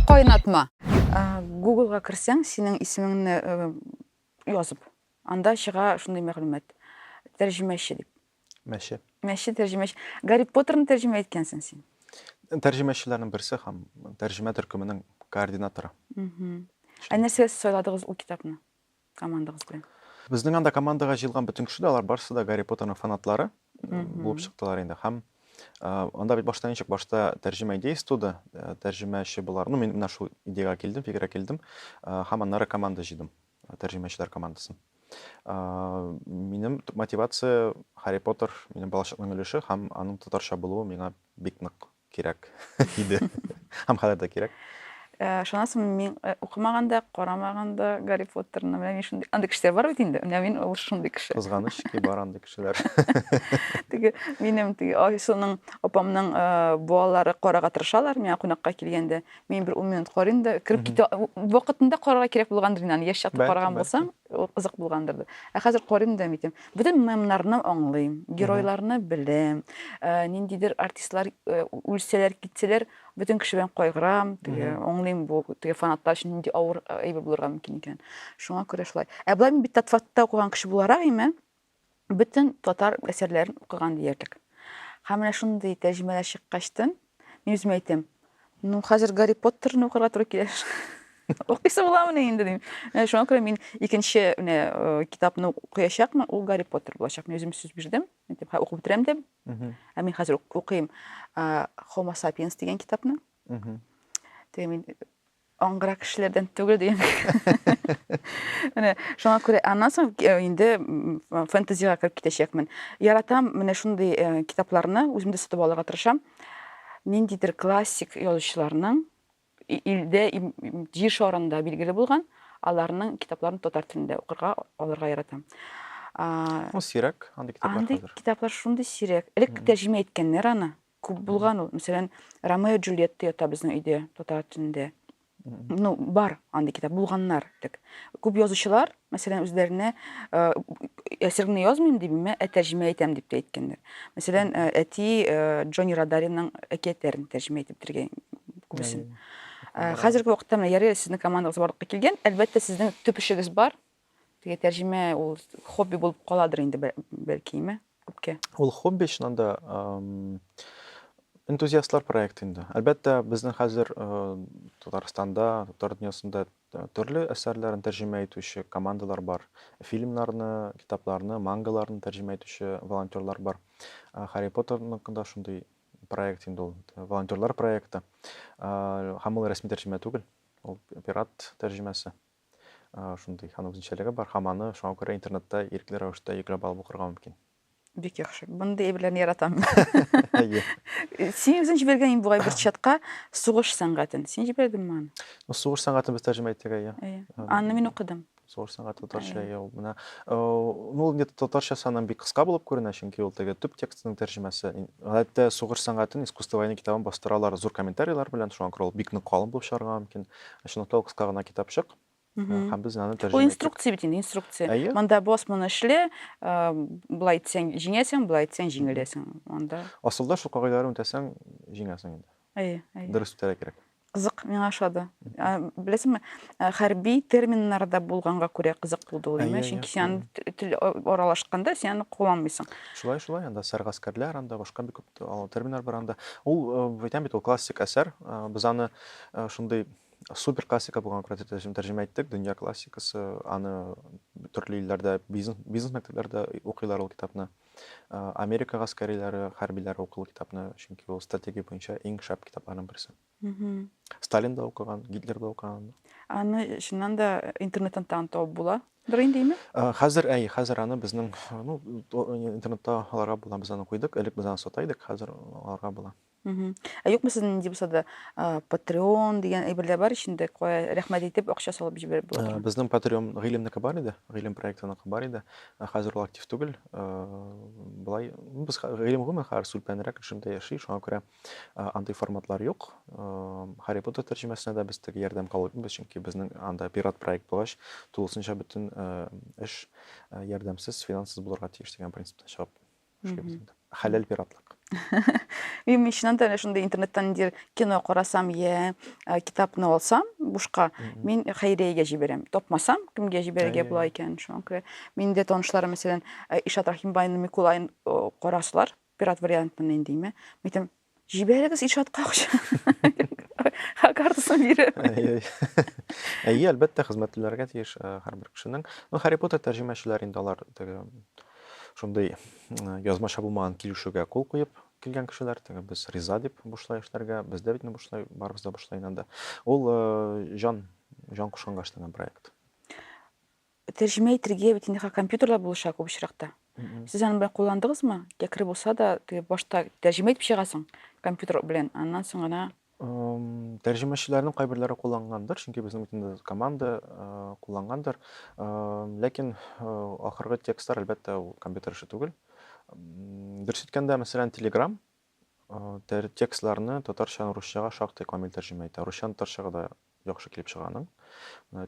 Кайнатма. Гуглга керсәң, синең исемеңне э, язып, анда чыга шундый мәгълүмат. Тәрҗемәче дип. Мәче. Мәче тәрҗемәче. Гарри Поттерны тәрҗемә иткәнсең син. Тәрҗемәчеләрнең берсе һәм тәрҗемә төркеменең координаторы. Ә нәрсә сайладыгыз ул китапны? Командагыз белән. Безнең анда командага җыелган бөтен кеше дә, алар барысы да Гарри Поттерның фанатлары булып чыктылар инде. Һәм анда бит башта ничек, башта тәрҗемә идеясы туды, тәрҗемәче булар. Ну, мин менә шул идеягә килдем, фикергә килдем, һәм аннары команда җыйдым, тәрҗемәчеләр командасын. Минем төп мотивация Гарри Поттер, минем балачакның өлеше һәм аның татарча булуы миңа бик нык кирәк иде. Һәм хәзер дә кирәк. Э, шуннан мин э, укымаган да карамаган да гарри поттерны менә мин шундый андый кешеләр бар бит инде менә мин ул шундый кеше кызганыч ки бар андый кешеләр теге минем теге айсуның апамның э, балалары карарга тырышалар миңа кунакка килгәндә мин бер ун минут карыйм да кереп китә вакытында карарга кирәк булгандыр инде аны яшь чакта караган булсам Ул кызык булгандыр дип. Ә хәзер карыйм да әйтәм, бөтен мемнарны аңлыйм, геройларны беләм, ниндидер артистлар үлсәләр, китсәләр, бөтен кеше белән кайгырам, аңлыйм бу теге фанатлар өчен нинди авыр әйбер булырга мөмкин икән. Шуңа күрә шулай. Ә болай мин бит Татфатта укыган кеше буларак име? бөтен татар әсәрләрен укыган диярлек. Һәм менә шундый тәрҗемәләр чыккачтын, мин үземә әйтәм, ну, хәзер Гарри Поттерны укырга туры килер. Укыйсы буламыни инде дим. Менә шуңа күрә мин икенче менә э, китапны укыячакмын, ул Гарри Поттер булачак. Мин үзем сүз бирдем, әйтеп, һә укып бетерәм дип. Ә мин хәзер укыйм Homo sapiens дигән китапны. Теге мин аңгыра кешеләрдән түгел дигән менә шуңа күрә аннан соң э, инде фэнтезига кереп китәчәкмен яратам менә шундый э, китапларны үзем дә сатып алырга тырышам ниндидер классик язучыларның илдә җир шарында билгеле булган аларның китапларын татар телендә укырга алырга яратам ул сирәк андый китаплар андый китаплар шундый сирәк элек тәрҗемә иткәннәр аны Күп булган ул. Мәсәлән, Ромео Джульетта ята безнең өйдә татар телендә. Ну, бар андый китап, булганнар дик. Күп язучылар, мәсәлән, үзләренә әсәреңне язмыйм дип, мә ә тәрҗемә итәм дип тә әйткәннәр. Мәсәлән, әти Джонни Радаринның әкиятләрен тәрҗемә итеп бетергән күбесен. Хәзерге вакытта менә ярый сезнең командагыз барлыкка килгән. Әлбәттә, сезнең төп эшегез бар. Теге тәрҗемә ул хобби булып каладыр инде бәлкиме күпкә. Ул хобби чыннан да энтузиастлар проекты инде. Әлбәттә, безнең хәзер Татарстанда, татар дөньясында төрле әсәрләрен тәрҗемә итүче командалар бар. Фильмнарны, китапларны, мангаларны тәрҗемә итүче волонтерлар бар. Харри Поттерның да шундый проект инде ул, волонтерлар проекты. Һәм ул рәсми тәрҗемә түгел, ул пират тәрҗемәсе. Шундый аның үзенчәлеге бар һәм аны шуңа күрә интернетта ирекле рәвештә йөкләп алып укырга мөмкин. Бик яхшы. Мондый әйберләрне яратам. Син үзең җибәргән инде бугай бер чатка сугыш сәнгатен. Син җибәрдеңме аны? Ну, сугыш сәнгатен без тәрҗемә иттек, әйе. Аны мин укыдым. Сугыш сәнгате татарча, әйе, ул менә. Ну, ул инде татарчасы аннан бик кыска булып күренә, чөнки ул теге төп текстның тәрҗемәсе. Гадәттә сугыш сәнгатен искусство войны китабын бастыралар зур комментарийлар белән, шуңа күрә ул бик нык калын булып чыгарга мөмкин. Шуны тол кыска гына китапчык. Һәм без аны тәрҗемә иттек. Бу инструкция бит инде, инструкция. Әйе. Монда бос моны эшле, былай итсәң җиңәсең, былай итсәң җиңеләсең. Монда. Асылда шул кагыйдәләрне үтәсәң, җиңәсең инде. Әйе, әйе. Дөрес үтәргә кирәк. Кызык, миңа ошады. Беләсеңме, хәрби терминнарда булганга күрә кызык булды ул, әйе, чөнки син тел аралашканда син аны кулланмыйсың. Шулай, шулай, анда сәргаскәрләр, анда башка бик күп терминнар бар анда. Ул, әйтәм бит, ул классик әсәр. Без аны Шундый супер классика булган Коръән тәрҗемә тәрҗемә иттек, дөнья классикасы. Аны төрле илләрдә бизнес бизнес мәктәпләрдә укыйлар ул китапны. Америка гаскәриләре, хәрбиләре укый ул китапны, чөнки ул стратегия буенча иң шәп китапларның берсе. Сталин да укыган, Гитлер да укыган. Аны чыннан да интернеттан тагын табып була. Бер инде име? Хәзер әй, хәзер аны безнең, ну, интернетта аларга була, без аны куйдык. Элек без аны сата идек, хәзер аларга була. Мгм. Ә юкмы сезнең нинди булса да, а, Patreon дигән әйберләр бар ич инде, кая рәхмәт әйтеп, акча салып җибәреп була Э, торган? Безнең Patreon Гыйлемнеке бар иде, Гыйлем проектыныкы бар иде. Ә Хәзер ул актив түгел. Э, Болай, ну, без хә- Гыйлем гомумән хәзер сүлпәнрәк режимда яши, шуңа күрә э, андый форматлар юк. Э, Harry Potter тәрҗемәсенә дә без теге ярдәм кабул итмибез, чөнки безнең анда пират проект булгач, тулысынча бөтен э, эш э, ярдәмсез, финансыз булырга тиеш дигән принциптан чыгып. Мхм. Хәләл пиратлык. Мин чыннан да шундый интернеттан ниндидер кино карасам я э, китапны алсам бушка, мин хәйриягә җибәрәм. Тапмасам, кемгә җибәрергә була икән шуңа күрә. Мин дә танышларым, мәсәлән, э, Ишат Рахимбайны Микулайын э, карасылар, пират вариантын инде димә. Мин әйтәм, Җибәрегез Илшатка акча. Ха картасын биреп. Әйе, әлбәттә, хезмәт түләргә тиеш э, һәрбер кешенең. Ну, Харри Поттер тәрҗемәчеләр инде алар теге шундый э, язмача булмаган килешүгә кул куеп килгән кешеләр, теге без риза дип бушлай эшләргә, без дә бит бушлай, барыбыз да бушлай инде. Ул э, җан җан кушканга эшләнгән проект. Тәрҗемә итергә бит инде компьютерлар булыша күп очракта. Сез аны белән кулландыгызмы? Якры булса да, теге башта тәрҗемә итеп чыгасың компьютер белән, аннан соң гына тәрҗемәчеләрнең кайберләре куллангандыр, чөнки безнең бит инде команда куллангандыр. Ләкин ахыргы текстлар, әлбәттә, ул компьютер эше түгел. Дөрес әйткәндә, мәсәлән, Telegram Текстларны татарчадан русчага шактый камил тәрҗемә итә. Русчадан татарчага да яхшы килеп чыга аның.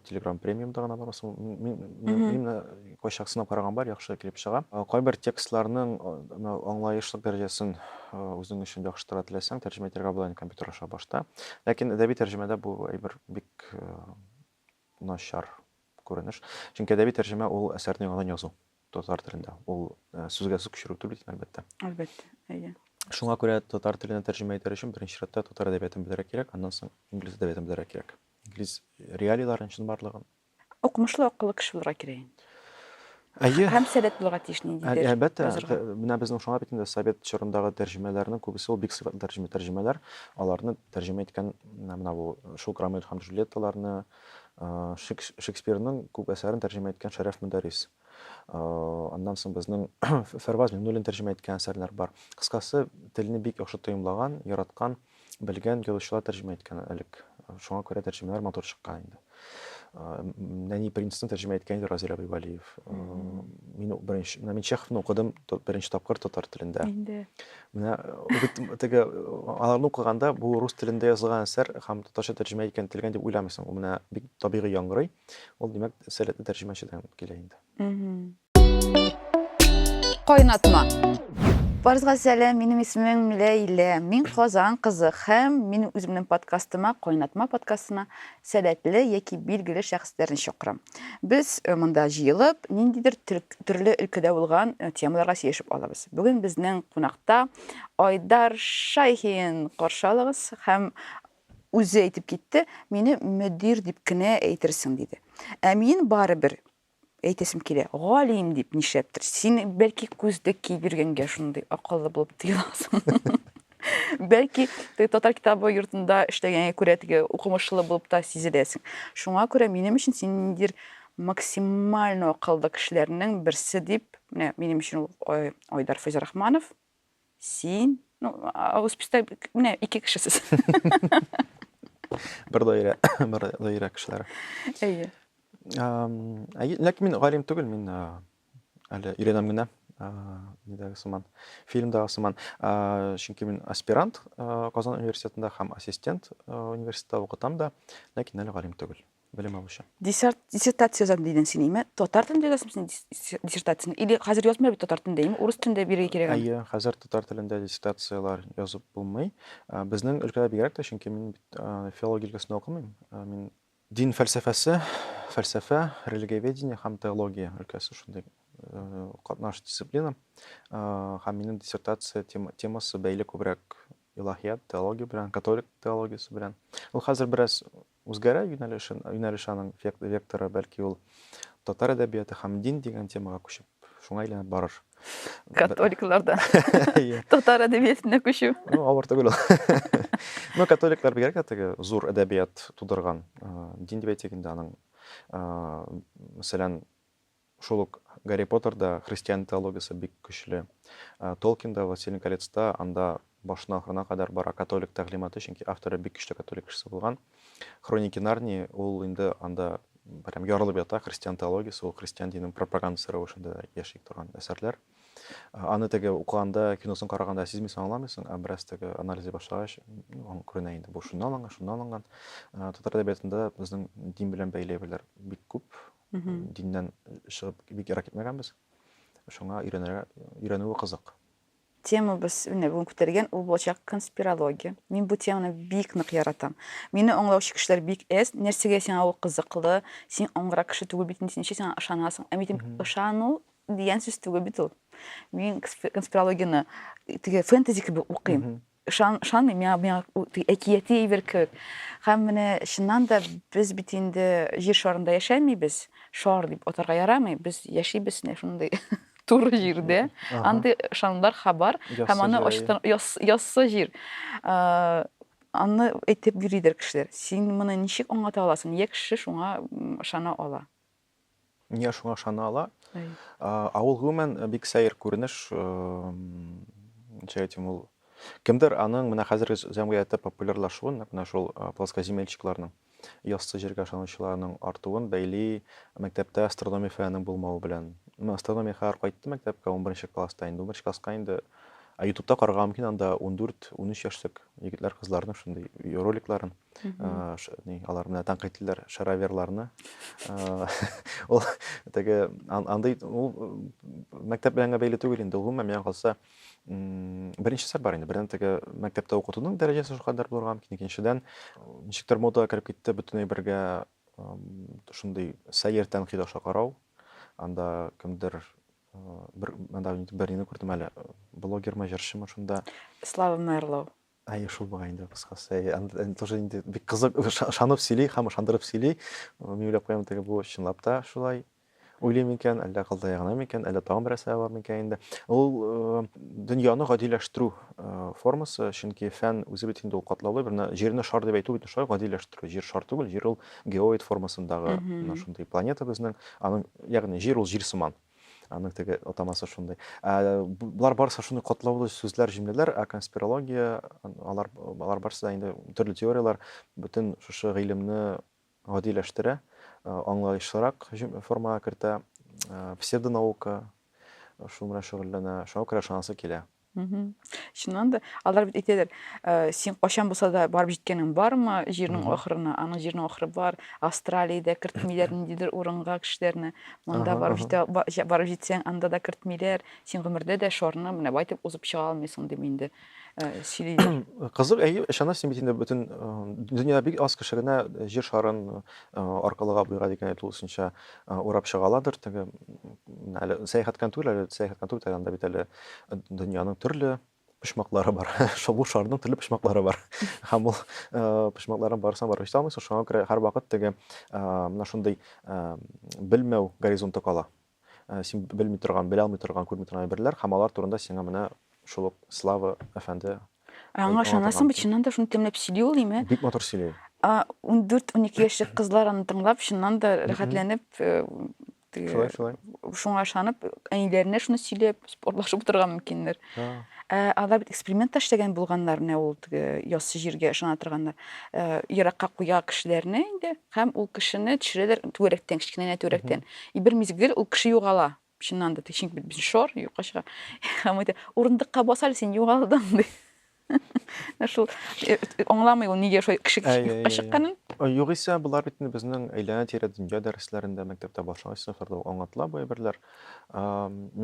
Telegram премиумда гына бар. Именно кайчак сынап караган бар, яхшы килеп чыга. Кайбер текстларның аңлаешлык дәрәҗәсен үзең өчен яхшыртырга теләсәң, тәрҗемә итәргә була инде компьютер аша башта. Ләкин әдәби тәрҗемәдә бу әйбер бик начар күренеш. Чөнки әдәби тәрҗемә ул әсәрне яңадан язу. Татар телендә. Ул э, сүзгә сүз күчерү түгел бит, әлбәттә. Әлбәттә, әйе. Шуңа күрә татар теленә тәрҗемә итәр өчен беренче чиратта татар әдәбиятын белергә кирәк, аннан соң инглиз әдәбиятын белергә кирәк. Инглиз реалийларын, чынбарлыгын. Укымышлы, акыллы кеше булырга кирәк инде. Әйе. Һәм сәләт булырга тиеш Ә- ниндидер. Әлбәттә, язырга. т- менә безнең шуңа бит инде совет чорындагы тәрҗемәләрнең күбесе ул бик сыйфатлы тәрҗемә, тәрҗемәләр. Аларны тәрҗемә иткән менә менә бу шул Громель һәм Джульетталарны, Шекспирның күп әсәрен тәрҗемә иткән Шәрәф Мөдәрис. Аннан соң безнең Фәрваз Миңнуллин тәрҗемә иткән әсәрләр бар. Кыскасы, телне бик яхшы тоемлаган, яраткан, белгән язучылар тәрҗемә иткән элек. Шуңа күрә тәрҗемәләр матур чыккан инде. Нәни принцны тәрҗемә иткән иде Разил Абибалиев. Мин беренче, мин Чеховны укыдым беренче тапкыр татар телендә. Менә бит теге аларны укыганда бу рус телендә язылган әсәр һәм татарча тәрҗемә икән ителгән дип уйламыйсың. Ул менә бик табигый яңгырый. Ул димәк сәләтле тәрҗемәчедән килә инде. Кайнатма. Барыгызга сәлам, минем исемем Ләйлә. Мин Казан кызы һәм минем үземнең подкастыма, Кайнатма подкастына Сәләтле яки билгеле шәхесләрне чакырам. Без монда җыелып, ниндидер төрле өлкәдә булган темаларга сөйләшеп алабыз. Бүген безнең кунакта Айдар Шайхин. Каршы алыгыз. Һәм үзе әйтеп китте, мине мөдир дип кенә әйтерсең, диде. Ә мин барыбер әйтәсем килә, галим дип нишләптер. Син бәлки күздек киеп йөргәнгә шундый акыллы булып тоеласың. Бәлки теге татар китабы йортында эшләгәнгә күрә теге укымышлы булып та сизеләсең. Шуңа күрә минем өчен син ниндидер максимально акыллы кешеләрнең берсе дип, менә минем өчен ул Айдар Фәйзрахманов, Син, ну, авыз пистә, менә ике кешесез. Бер даирә, бер даирә кешеләре. Әйе. Ләкин мин галим түгел, мин әле өйрәнәм генә нидәге сыман фильмдагы сыман чөнки мин аспирант казан университетында һәм ассистент университетта укытам да ләкин әле галим түгел белем алучы. Диссерт, диссертация язам дидең син, име? Татар телендә язасың син диссертацияне? Или хәзер язмыйлар бит татар телендә, име? Урыс телендә бирергә кирәк. Әйе, хәзер татар телендә диссертацияләр язып булмый. Безнең өлкәдә бигрәк тә, чөнки мин бит филология өлкәсендә укымыйм. Мин дин фәлсәфәсе, фәлсәфә, религиоведение һәм теология өлкәсе шундый катнаш дисциплина. Һәм минем диссертация темасы бәйле күбрәк илаһият, теология белән, католик теологиясе белән. Ул хәзер бераз Үзгәрә юнәлешен, юнәлеш аның век, векторы, бәлки ул татар әдәбияты һәм дин дигән темага күчеп, шуңа әйләнеп барыр. Католиклардан Иә. татар әдәбиятына күчү. Ну, авыр түгел ул. Ну, католиклар бигрәк тә теге зур әдәбият тудырган э, дин дип әйтик инде аның. Э, Мәсәлән, Шул ук Гарри Поттерда христиан теологиясе бик көчле. Толкинда, Властелин колецта анда башына ахырына кадәр бара католик тәгълиматы, чөнки авторы бик көчле католик кешесе булган. Хроники Нарнии ул инде анда прям ярылып ята, христиан теологиясе, ул христиан динен пропагандасы рәвешендә яши торган әсәрләр. Аны теге укыганда, киносын караганда сизмисең, аңламыйсың, ә бераз теге анализлый башлагач, аңа күренә инде, бу шуннан алынган, шуннан алынган. Татар әдәбиятында безнең дин белән бәйләвләр бик күп, Диннән чыгып бик ерак китмәгәнбез. Шуңа өйрәнергә, өйрәнүе кызык. Темабыз менә бүген күтәргән ул булачак конспирология. Мин бу теманы бик нык яратам. Мине аңлаучы кешеләр бик әз. Нәрсәгә сиңа ул кызыклы? Син аңгырак кеше түгел бит, син ничек сиңа ышанасың? Ә мин ышану дигән сүз түгел бит ул. Мин конспирологияне теге фэнтези кебек укыйм. Ышан, ышанмыйм, миңа, миңа әкияти әйбер кебек. Һәм менә чыннан да без бит инде җир шарында яшәмибез. Шар дип атарга ярамый. Без яшибез менә шундый туры җирдә. Андый ышанымнар хабар һәм аны ачтан яссы җир. Аны әйтеп йөридер кешеләр. Син моны ничек аңлата аласың? Нигә кеше шуңа ышана ала? Дөнья шуңа ышана ала. Авыл гомумән бик сәер күренеш. Ничә әйтим ул? Кемдер аның менә хәзерге җәмгыятьтә популярлашуын, нәкъ менә шул плоскоземельщикларның, яссы җиргә ышанучыларның артуын бәйли мәктәптә астрономия фәненең булмавы белән. Мин астрономия хәзер кайтты мәктәпкә 11 класста инде. 11 класска инде ютубта карарга мөмкин анда 14-13 яшьлек егетләр кызларның шундый роликларын. ни алар менә тәнкыйтьләр шараверларны ул теге андый ул мәктәп белән генә бәйле түгел инде гомумән миңа калса беренче сәр бар инде бердән теге мәктәптә укытуның дәрәҗәсе шулкадәр булырга мөмкин икенчедән ничектер модага кереп китте бөтен әйбергә шундый сәер тәнкыйть аша карау анда кемдер бер анда бернини күрдем әле блогермы җырчымы шунда слава мерлоу Әйе, шул бугай инде кыскасы. Әйе, тоже инде бик кызык, ышанып сөйли һәм ышандырып сөйли. Мин уйлап куям, теге бу чынлап та шулай уйлый микән, әллә кылтая гына микән, әллә тагын бер нәрсә бар микән инде. Ул э, дөньяны гадиләштерү э, формасы, чөнки фән үзе бит инде ул катлаулы, бер җирне шар дип әйтү бит шулай гадиләштерү. Җир шар түгел, җир ул геоид формасындагы, шундый планета безнең. Аның, ягъни җир ул җир сыман. Аның теге атамасы шундый. Ә, Болар барысы шундый катлаулы сүзләр, җөмләләр, ә конспирология, алар, алар барысы да инде төрле теорияләр бөтен шушы гыйлемне гадиләштерә, ә, аңлаешлырак җөм- формага кертә, ә, псевдонаука шул белән шөгыльләнә, шуңа күрә ышанасы килә. чыннан да алар бит әйтәләр э, син кайчан булса да барып җиткәнең бармы җирнең ахырына аның җирнең ахыры бар австралиядә кертмиләр ниндидер урынга кешеләрне монда барып җитә барып җитсәң анда да кертмиләр син гомердә дә шарны менә бай итеп узып чыга алмыйсың дип инде э, сөйлиләр кызык әйе ышанасыз син бит инде бөтен э, дөнья бик аз кеше генә җир шарын аркылыга буйган икән тулысынча урап чыга аладыр теге әле сәяхәткән түгел әле сәяхәткән түгел анда бит әле Дөньяның төрле почмаклары бар. Шул шарның төрле почмаклары бар. Һәм ул э, почмакларын барсаң барып җитә алмыйсың. Шуңа күрә һәр вакыт теге э, менә шундый э, белмәү горизонты кала. Син белми торган, белә алмый торган, күрми торган әйберләр һәм алар турында сиңа менә шул ук Слава әфәнде Аңа ышанасың бит, чыннан да шуны тәмләп сөйли ул име? Бик матур сөйли. 14-12 яшьлек кызлар аны тыңлап, чыннан да рәхәтләнеп Теге, шулай, шулай. Шуңа ышанып, әниләренә шуны сөйләп, спортлашып утырган мөмкиннәр. Ә алар бит эксперимент та эшләгән булганнар, менә ул теге яссы җиргә ышана торганнар. Еракка куя кешеләрне инде һәм ул кешене төшерәләр түгәрәктән, кечкенә генә түгәрәктән. И бер мизгел ул кеше югала. Чыннан да, чөнки бит без шор, юкка чыга. Һәм әйтә, урындыкка бас әле, син югалдың, ди. Шул э, э, аңламый ул нигә шулай кеше кешелеккә чыкканын. Э, югыйсә, болар бит инде безнең әйләнә-тирә дөнья дәресләрендә, мәктәптә башлангыч сыйныфларда аңлатыла бу әйберләр.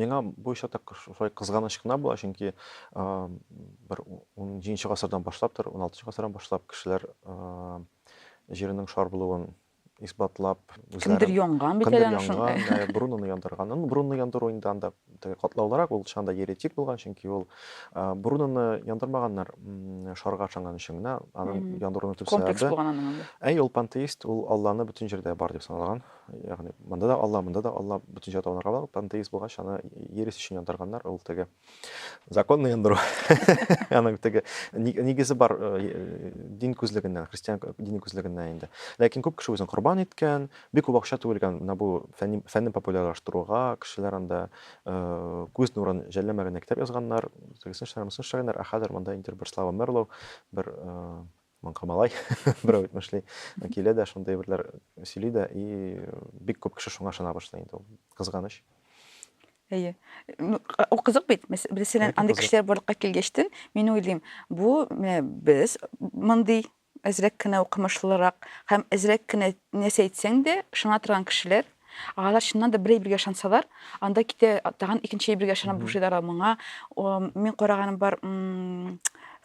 Миңа бу очракта шулай кызганыч кына була, чөнки бер 17 гасырдан башлаптыр, 16 гасырдан башлап кешеләр җиренең шар булуын исбатлап, үзләрен... Кемдер янган бит әле аны шунда. Кемдер янган, борынын яндырган. Борынны яндыру инде анда катлаулырак, ул шанда еретик булган, чөнки ул борыныны яндырмаганнар шарга ышанган өчен генә, аны яндыруның төп сәбәбе. Комплекс булган аның инде. Әй, ул пантеист, ул Алланы бөтен җирдә бар дип санаган. Ягъни, монда да Алла, монда да Алла, бөтен җирдә табынырга була. Пантеист булгач, аны ерис өчен яндырганнар, ул теге. законный яндыру аның теге нигезе бар дин күзлегеннән христиан дини күзлегеннән инде ләкин күп кеше үзен корбан иткән бик күп акча түгелгән менә бу фәнни фәнне популярлаштыруга кешеләр анда күз нурын жәлләмәгәннәр китап язганнар тегесен эшләгәннәр мосын эшләгәннәр ә хәзер монда инде бер слава мерлоу бер Маңка малай, берәү әйтмешли, килә дә шундый әйберләр сөйли дә, и бик күп кеше шуңа ышана башлый инде ул. Кызганыч. Әйе. Ул кызык бит. Мәсәлән, андый кешеләр барлыкка килгәчтен, мин уйлыйм, бу менә без мондый әзрәк кенә укымышлырак һәм әзрәк кенә нәрсә әйтсәң дә ышана торган кешеләр, Алар чыннан да бер әйбергә ышансалар, анда китә тагын икенче әйбергә ышанып Мгм. бушыйлар ал моңа. О, Мин караганым бар м,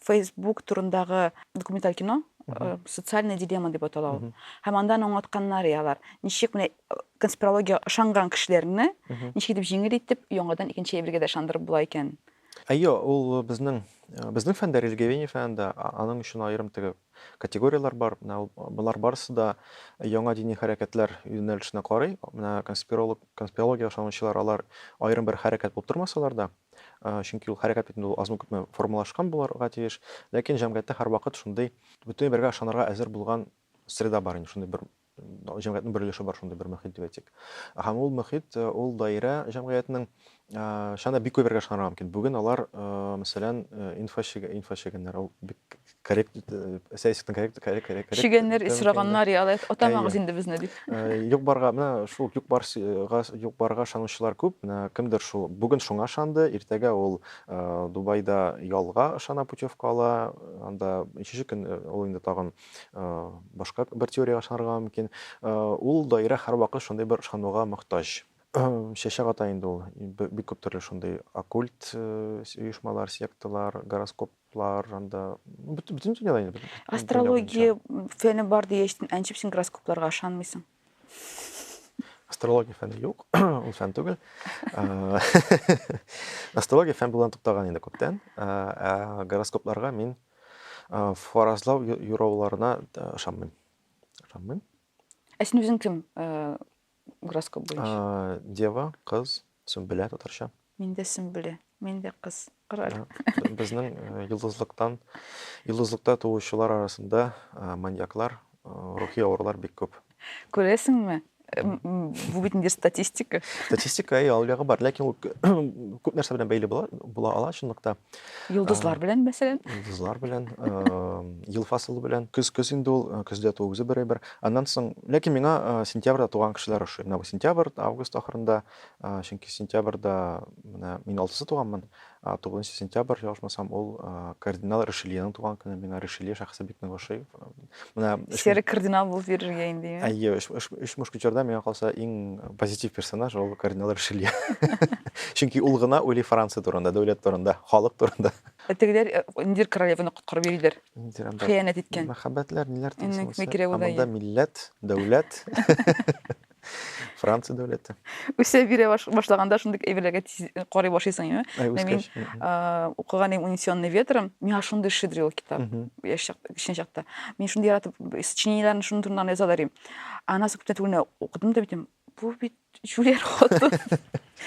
Facebook турындагы документаль кино, Мгм. э, социальная дилемма дип атала ул. Мгм. Һәм анда аны аңлатканнар и алар. Ничек менә э, конспирология ышанган кешеләрне Мгм. ничек итеп җиңел итеп яңадан икенче әйбергә дә ышандырып була икән. Әйе, ул безнең, э, безнең фәндә, религиоведение фәнендә, а- аның өчен аерым теге Категорияләр бар. Менә ул болар барысы да яңа дини хәрәкәтләр юнәлешенә карый. Менә конспиролог, конспирологиягә ышанучылар алар аерым бер хәрәкәт булып тормасалар да, чөнки ул хәрәкәт бит инде ул азмы-күпме формалашкан булырга тиеш, ләкин җәмгыятьтә һәрвакыт шундый бөтенләй бергә ышанырга әзер булган среда бар инде, шундый бер җәмгыятьнең бер өлеше бар шундый бер мөхит дип әйтик. Һәм ул мөхит, э, ул даирә җәмгыятьнең э, чана бик күбергә ышанырга мөмкин. Бүген алар, э, мәсәлән, инфа инфа чегәннәр, ул бик коррект, сәясәтнең коррект, коррект, коррект. Чегәннәр, исраганнар, я алай атамагыз инде безне дип. Юк барга, менә шул юк барга, юк барга ышанучылар күп. Менә кемдер шул бүген шуңа ышанды, иртәгә ул Дубайда ялга ышана путевка ала, анда ничек ул инде тагын башка бер теорияга ышанырга мөмкин. Ул даирә һәрвакыт шундый бер ышануга мохтаҗ. Чәчәк ата инде ул. Бик күп төрле шундый оккульт оешмалар, секталар, гороскоплар, анда бөтен дөньяда инде. Астрология фәне бар дигәч, әнчеп син гороскопларга ышанмыйсың. Астрология фәне юк, ул фән түгел. Астрология фән булудан туктаган инде күптән. Ә гороскопларга мин фаразлау юрауларына ышанмыйм. Ышанмыйм. Ә син үзең кем? Гороскоп буенча. Дева, кыз, Сөмбелә татарча. Мин дә Сөмбелә. Мин дә кыз. Кораль. Безнең йолдызлыктан, йолдызлыкта туучылар арасында маньяклар, рухи авырулар бик күп. Күрәсеңме? Бу бит инде статистика. Статистика, әйе, алъягы бар, ләкин ул күп нәрсә белән бәйле була, була ала чынлыкта. Йолдызлар белән, мәсәлән? Йолдызлар белән, ел фасылы белән. Көз, көз инде ул, көздә туу үзе бер әйбер. Аннан соң, ләкин миңа сентябрьдә туган кешеләр ошый. Менә бу сентябрь, август ахырында, чөнки сентябрьдә менә мин алтысы туганмын. Тугызынчы сентябрь, ялгышмасам, ул кардинал Ришельеның туган көне. Миңа Ришелье шәхесе бик нык ошый. Менә Сер кардинал булып йөрергә инде. Әйе, өч мушкетерда миңа калса иң позитив персонаж ул кардинал Ришелье. Чөнки ул гына уйлый Франция турында, дәүләт турында, халык турында. Тегеләр Индир королеваны коткарып йөриләр. Ниндидер анда хыянәт иткән. Мәхәббәтләр ниләр Иннек тиесен булса. микре Ә удай. монда милләт, дәүләт. Франция дәүләте. Үсә бирә баш- башлаганда шундый әйберләргә тиз карый башлыйсың инде. Әй, Менә мин үскәч. Мгм. а, укыган идем унесенный ветром миңа шундый шедри ул китап Мгм. яшь чакта кечкенә чакта мин шундый яратып сочинениеләрне шуның турында гына язалар идем аннан соң күптән түгел менә укыдым да әйтәм Бу бит җүләр хатын.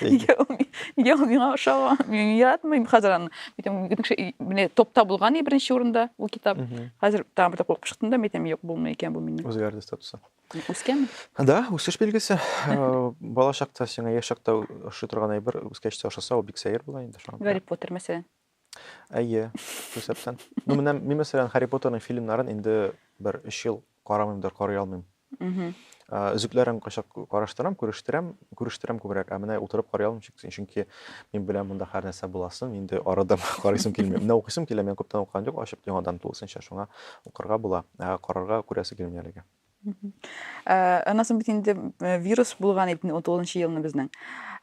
Нигә ул нигә ул миңа ошамый? Мин яратмыйм хәзер аны. Әйтәм, кеше менә топта булган и беренче урында ул китап. Хәзер тагын бер куркып чыктым да, мин әйтәм, юк, булмый икән бу миннән. Үзгәрде статусы. Үскән? Да, үсеш билгесе. Э, бала чакта сиңа яшь чакта ошый торган әйбер үскәч тә ошаса, ул бик сәер була инде шуңа. Гарри Поттер мәсәлән. Әйе, күрсәтсен. Ну, менә мин, мәсәлән, Харри Поттерның фильмнарын инде бер өч ел карамыймдыр, карый алмыйм. Өзекләрен кайчак караштырам, күрештерәм, күрештерәм күбрәк, ә менә утырып карый алмыйм, чөнки мин беләм, монда һәр нәрсә буласын, инде арыдым, карыйсым килми. Менә укыйсым килә, мин күптән укыган юк, ачып яңадан тулысынча, шуңа укырга була, ә карарга күрәсе килми әлегә. Э, аннан соң бит инде э, вирус булган итне 19 елны безнең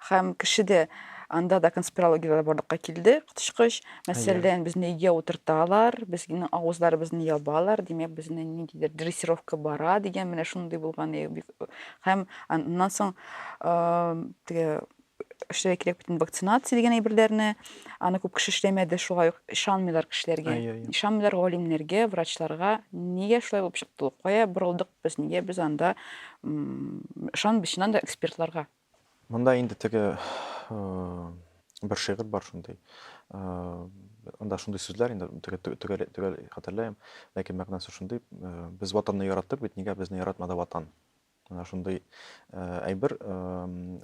һәм кешеде анда да конспирологияләр барлыкка килде коточкыч мәсәлән безне өйгә утырталар безнең авызларыбызны ябалар димәк безне ниндидер дрессировка бара дигән менә шундый булган һәм аннан соң э, теге эшләргә кирәк бит инде вакцинация дигән әйберләрне. Аны күп кеше эшләмәде, шулай ук ышанмыйлар кешеләргә. Ай, ай, ай. Ышанмыйлар галимнәргә, врачларга. Нигә шулай булып чыкты ул? Кая борылдык без? Нигә без анда м, ышан без чыннан да экспертларга? Монда инде теге э, бер шигырь бар шундый. Э, Анда шундый сүзләр инде төгә- төгә- төгәл төгәл хәтерләмим, ләкин мәгънәсе шундый, э, без ватанны яраттык бит, нигә безне яратмады ватан? Менә шундый әйбер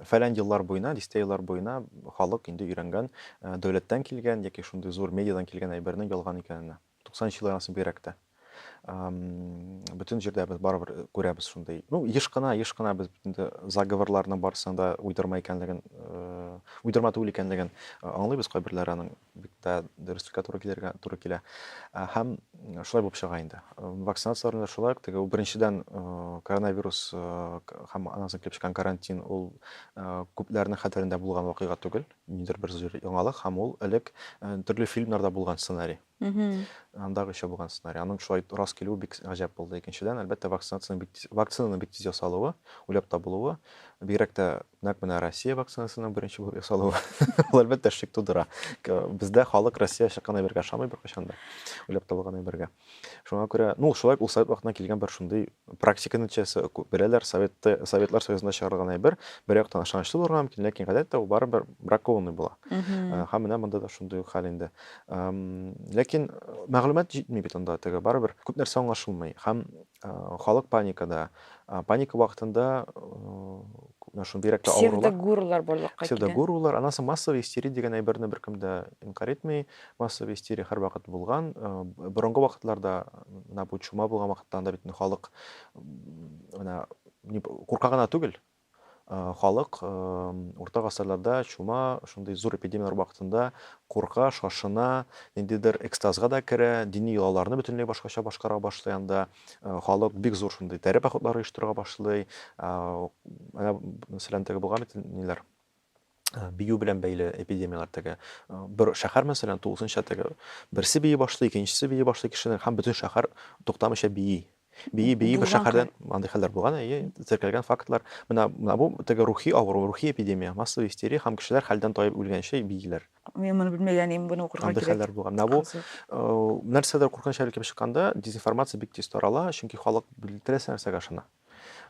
фәлән еллар буена, дистә еллар буена халык инде өйрәнгән, дәүләттән килгән яки шундый зур медиадан килгән әйбернең ялган икәненә. 90 еллар анысы бигрәк тә. Бөтен җирдә без барыбер күрәбез шундый. Ну, еш кына, еш кына без инде заговорларның барсында уйдырма икәнлеген, уйдырма түгел икәнлеген аңлыйбыз кайберләре аның. бик тә дөреслеккә туры килергә туры килә. Ә, һәм шулай булып чыга инде. Вакцинацияләрне дә шулай ук теге ул беренчедән э, коронавирус э, һәм аннан соң килеп чыккан карантин ул э, күпләрнең хәтерендә булган вакыйга түгел, ниндидер бер зур яңалык һәм ул элек э, төрле фильмнарда булган сценарий. Андагы еще булган сценарий. Аның шулай рас килүе бик гаҗәп булды. Икенчедән, әлбәттә, вакцинациянең бик тиз, вакцинаның бик тиз ясалуы, уйлап табылуы, бигрәк тә Нәкъ менә Россия вакцинасының беренче булып ясалуы, ул әлбәттә шик тудыра. Бездә халык Россия чыккан әйбергә ышанмый беркайчан да, уйлап табылган әйбергә. Шуңа күрә, ну, шулай ул совет вакытына килгән бер шундый практика нәтиҗәсе, беләләр, советты, Советлар Союзында чыгарылган әйбер, бер яктан ышанычлы булырга мөмкин, ләкин гадәттә ул барыбер бракованный була. Ә, Һәм менә монда да шундый ук хәл инде. Ам, Ләкин мәгълүмат җитми бит анда теге, барыбер күп нәрсә аңлашылмый. Һәм Халык паникада. Паника вакытында менә шундый рәктә авырулар. Псевдогурулар барлыкка килә. Псевдогурулар, аннан соң массовый истерия дигән әйберне беркем дә инкарь итми. Массовый истерия һәрвакыт булган. Борынгы вакытларда менә бу чума булган вакытта анда бит халык менә курка гына түгел, Халык урта гасырларда чума, шундый зур эпидемияләр вакытында курка, шашына, ниндидер экстазга да керә, дини йолаларны бөтенләй башкача башкара башлый анда. Халык бик зур шундый тәре походлары оештырырга башлый. Менә, мәсәлән, теге булган бит, ниләр, бию белән бәйле эпидемияләр теге бер шәһәр мәсәлән тулысынча теге берсе бии башлый икенчесе бии башлый кешенең һәм бөтен шәһәр туктамыйча бии бии бии бер шәһәрдән андый хәлләр булган әйе теркәлгән фактлар менә менә бу теге рухи авыру рухи эпидемия массовый истерия һәм кешеләр хәлдән таеп үлгәнче бииләр мин моны белмәгән идем буны укырга кирәк андый хәлләр булган менә бу э, нәрсәдер куркыныч хәл килеп чыкканда дезинформация бик тиз тарала чөнки халык теләсә нәрсәгә ышана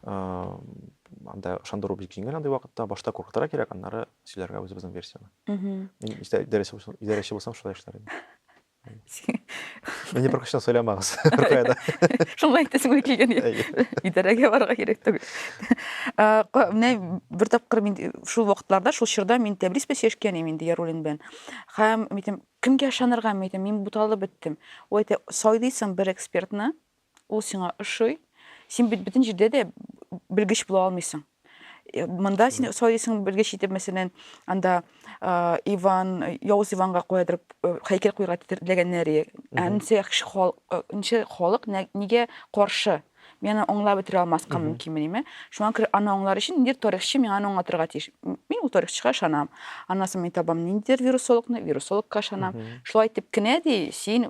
анда ышандыру бик җиңел андый вакытта башта куркытырга кирәк аннары сөйләргә үзебезнең версияне мин идарәче булсам шулай эшләр идем Мені бір күштен сөйлемеңіз Рукаяда. Шулай айтасың келген. Идарәгә барырга кирәк түгел. Менә бер тапкыр мин шул вакытларда, шул чорда мин Тәбрис белән сөйләшкән идем инде Ярулин белән. Һәм митем кемгә ышанырга митем, мин буталып беттем. Ул әйтә, сайлыйсың бер экспертны, Ул сиңа ошый. Син бит бөтен җирдә дә белгеч була алмыйсың. Э, монда син сайлыйсың белгеч итеп, мәсәлән, анда э, Иван, э, Явыз Иванга куядыр хәйкәл куярга теләгәннәре. Ә ничә кеше халык, ничә халык нигә каршы? Мин аны аңлап бетерә алмаска мөмкинмени? Шуңа күрә аны аңлар өчен ниндидер тарихчы миңа аны аңлатырга тиеш. Мин ул тарихчыга ышанам. Аннан соң мин табам ниндидер вирусологны, вирусологка ышанам. Шулай итеп кенә ди, син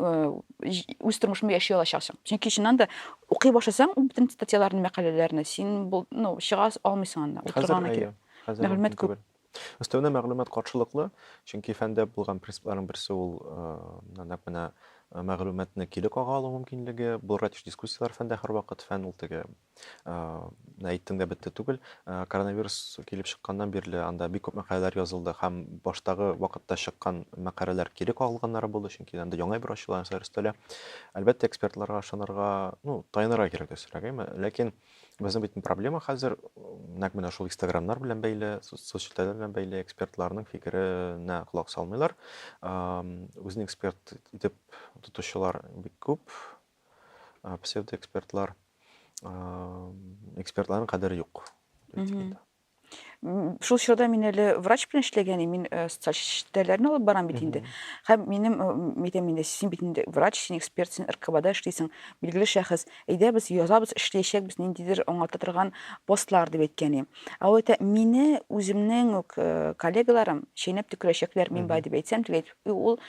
үз тормышымны яши алачаксың чөнки чыннан да укый башласаң бөтен статьяларны мәкаләләрне син ну чыга алмыйсың анда утырган мәгълүмат күп өстәвенә мәгълүмат каршылыклы чөнки фәндә булган принципларның берсе ул нәкъ менә мәгълүматны кире кага алу мөмкинлеге булырга тиеш дискуссияләр фәндә һәрвакыт фән ул теге Менә әйттең дә бетте түгел. Коронавирус килеп чыкканнан бирле анда бик күп мәкаләләр язылды һәм баштагы вакытта чыккан мәкаләләр кире кагылганнары булды, чөнки анда яңа бер ачыла, нәрсәләр өстәлә. Әлбәттә, экспертларга ышанырга, ну, таянырга кирәк өстәгәйме. Ләкин безнең бит проблема хәзер нәкъ менә шул Инстаграмнар белән бәйле, социаль челтәр белән бәйле экспертларның фикеренә колак салмыйлар. Үзен эксперт итеп тотучылар бик күп. ә, псевдоэкспертлар ә, экспертларның кадере юк шул чорда мин әле врач белән эшләгән идем мин э, социаль челтәрләрне алып барам бит инде һәм минем әйтәм э, инде син бит инде врач син эксперт син ркбда эшлисең билгеле шәхес әйдә без язабыз эшләячәкбез ниндидер аңлата торган постлар дип әйткән идем ә ул әйтә мине үземнең үк э, коллегаларым чәйнәп төкерәчәкләр мин бар дип әйтсәм теге ул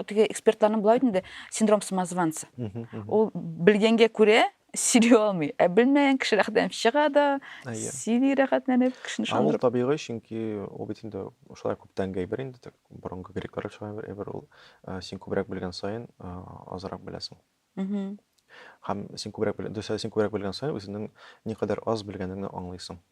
теге экспертларның болай бит инде синдром самозванца ул белгәнгә күрә сөйли алмый ә белмәгән кеше рәхәтләнеп чыга да сөйли рәхәтләнеп кешене ышандырып ул табигый чөнки ул бит инде шулай күптәнге әйбер инде борынгы греклар шулай бер әйбер ул син күбрәк белгән саен азрак беләсең һәм син күбрәк дөрес син күбрәк белгән саен үзеңнең никадәр аз белгәнеңне аңлыйсың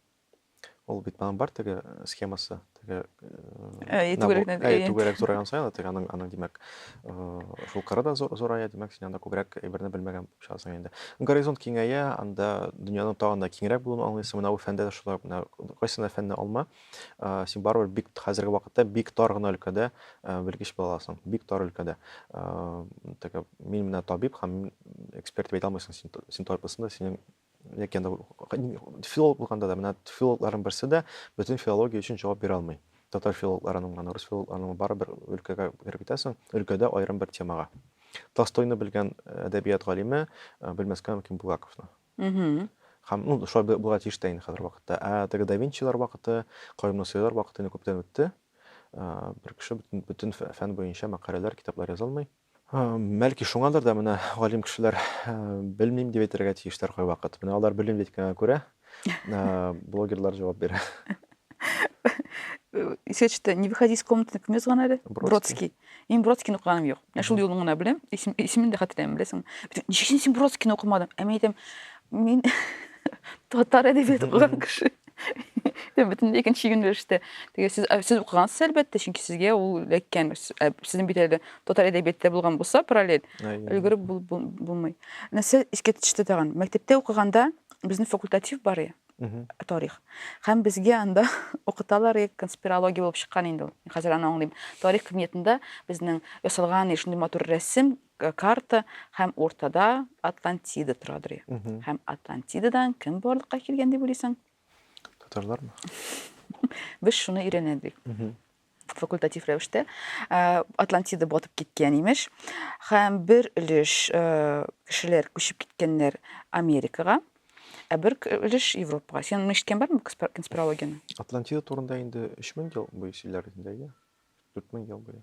Ул бит моның бар теге э, схемасы, теге э, түгәрәкне әй түгәрәк зурайган саен теге аның аның димәк шул э, кыры да зурая, димәк син анда күбрәк әйберне белмәгән булып чыгасың инде. Горизонт киңәя, анда дөньяның тагын да киңрәк булуын аңлыйсың. Менә бу фәндә дә шулай, менә кайсына фәнне алма, син барыбер бик хәзерге вакытта бик тар гына өлкәдә белгеч була аласың, бик тар өлкәдә. Теге мин менә табиб һәм эксперт дип әйтә алмыйсың, син син табибсың да, синең яки анда филолог булганда да менә филологларның берсе дә бөтен филология өчен җавап бирә алмый татар филологларының гына рус филологларының бары бер өлкәгә кереп китәсең өлкәдә аерым бер темага толстойны белгән э, әдәбият галиме э, белмәскә мөмкин булгаковны һәм ну шулай булырга тиеш тә инде хәзер вакытта ә теге да винчилар вакыты каюм насыйлар вакыты инде күптән үтте э, бер кеше бөтен фән буенча мәкаләләр китаплар яза алмый Бәлки шуңадыр да менә галим кешеләр белмим дип әйтергә тиештер кайвакыт. Менә алар белмим дип әйткәнгә күрә, блогерлар җавап бирә. Исә төште, не выходи из комнаты кем язган әле? Бродский. Мин Бродскийны укыганым юк. Менә шул юлын гына беләм, исемен дә хәтерләмим, беләсеңме? Ничек син Бродскийны укымадың? Ә мин әйтәм, мин татар әдәбияты укыган кеше. Бөтенләй икенче юнәлештә. Теге сез сез укыгансыз, әлбәттә, чөнки сезгә ул эләккән. Сезнең бит әле татар әдәбияттә булган булса параллель өлгереп булмый нәрсә искә төште тагын мәктәптә укыганда безнең факультатив бар иә тарих һәм безгә анда укыталар иә конспирология булып чыккан инде ул хәзер аны аңлыйм тарих кабинетында безнең ясалган иә шундый матур рәсем карта һәм уртада атлантида торадыр иә һәм атлантидадан кем барлыкка килгән дип уйлыйсың татарлармы без шуны өйрәнәдек факультатив рәвештә э, атлантида батып киткән имеш һәм бер өлеш э, кешеләр күчеп киткәннәр америкага ә бер өлеш европага сен ишеткән бармы конспирологияне атлантида турында инде өч мең ел буе сөйләр инде әйе дүрт мең ел буе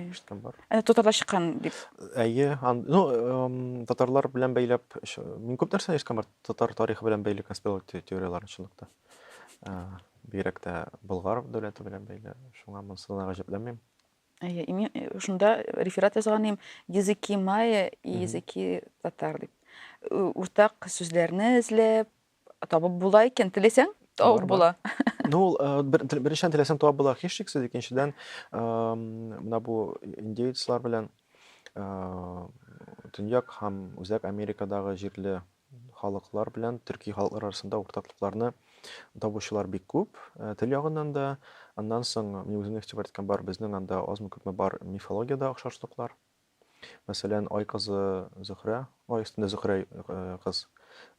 ишеткән бар ә татарда чыккан дип әйе ну татарлар белән бәйләп мин күп нәрсә ишеткән бар татар тарихы белән бәйле конспирология теорияларын чынлыкта Бигрәк тә Болгар дәүләте белән бәйле. Шуңа монысы да гаҗәпләнмим. Әйе, мин э, шунда реферат язган идем, языки майя и языки татар дип. Э, Уртак сүзләрне эзләп, табып була икән, теләсәң, табып була. Ну, ул э, бер- тел- беренчедән теләсәң табып була, һичшиксез, икенчедән, эм, менә бу индеецлар белән э, Төньяк һәм Үзәк Америкадагы җирле халыклар белән төрки халыклар арасында уртаклыкларны табучылар бик күп, э, тел ягыннан да. Аннан соң, мин үземне игътибар иткән бар, безнең анда азмы-күпме бар мифологиядә охшашлыклар. Мәсәлән, Ай кызы Зөһрә, Ай өстендә Зөһрә э, кыз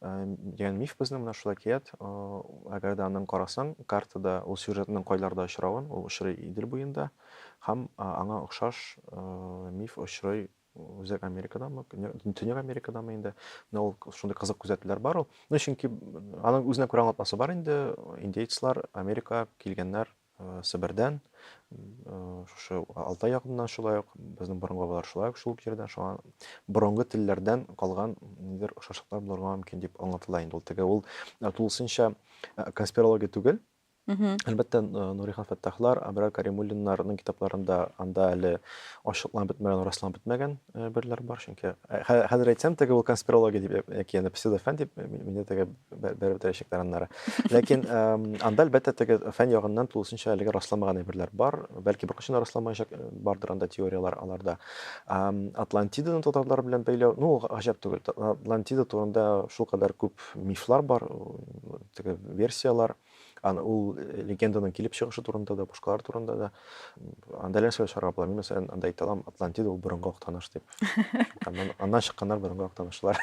э, дигән миф безнең менә шул әкият. Әгәр дә аның карасаң, картада ул сюжетның кайларда очравын, ул очрый Идел буенда һәм аңа охшаш миф очрый Үзәк Америкадамы, Төньяк Америкадамы инде. Менә ул шундый кызык күзәтүләр бар ул. Ну, чөнки аның үзенә күрә аңлатмасы бар инде. Индейцлар Америка килгәннәр э, Себердән, э, шушы Алтай ягыннан шулай ук, безнең борынгы бабалар шулай ук шул җирдән, шуңа борынгы телләрдән калган нидер ошашлыклар булырга мөмкин дип аңлатыла инде ул. Теге ул э, тулысынча конспирология түгел, Әлбәттә, Нурихан Фәттахлар, Абрар Каримуллиннарның китапларында анда әле ачыкланып бетмәгән, расланып бетмәгән берләр бар, чөнки хәзер әйтсәм, теге ул конспирология дип яки аны псевдофән дип мине теге бәреп бетерәчәкләр аннары. Ләкин анда әлбәттә теге фән ягыннан тулысынча әлегә расламаган әйберләр бар, бәлки беркайчан да расламаячак, бардыр анда теорияләр аларда. Атлантиданы татарлар белән бәйләү, ну, гаҗәп түгел. Атлантида турында шул кадәр күп мифлар бар, Теге версияләр, аны ул э, легенданың килеп чыгышы турында да, башкалар турында да. Анда нәрсә чарга була? Мин мәсәлән, анда әйтә алам, Атлантида ул борынгы актаныш дип. Аннан, аннан чыкканнар борынгы актанышлар.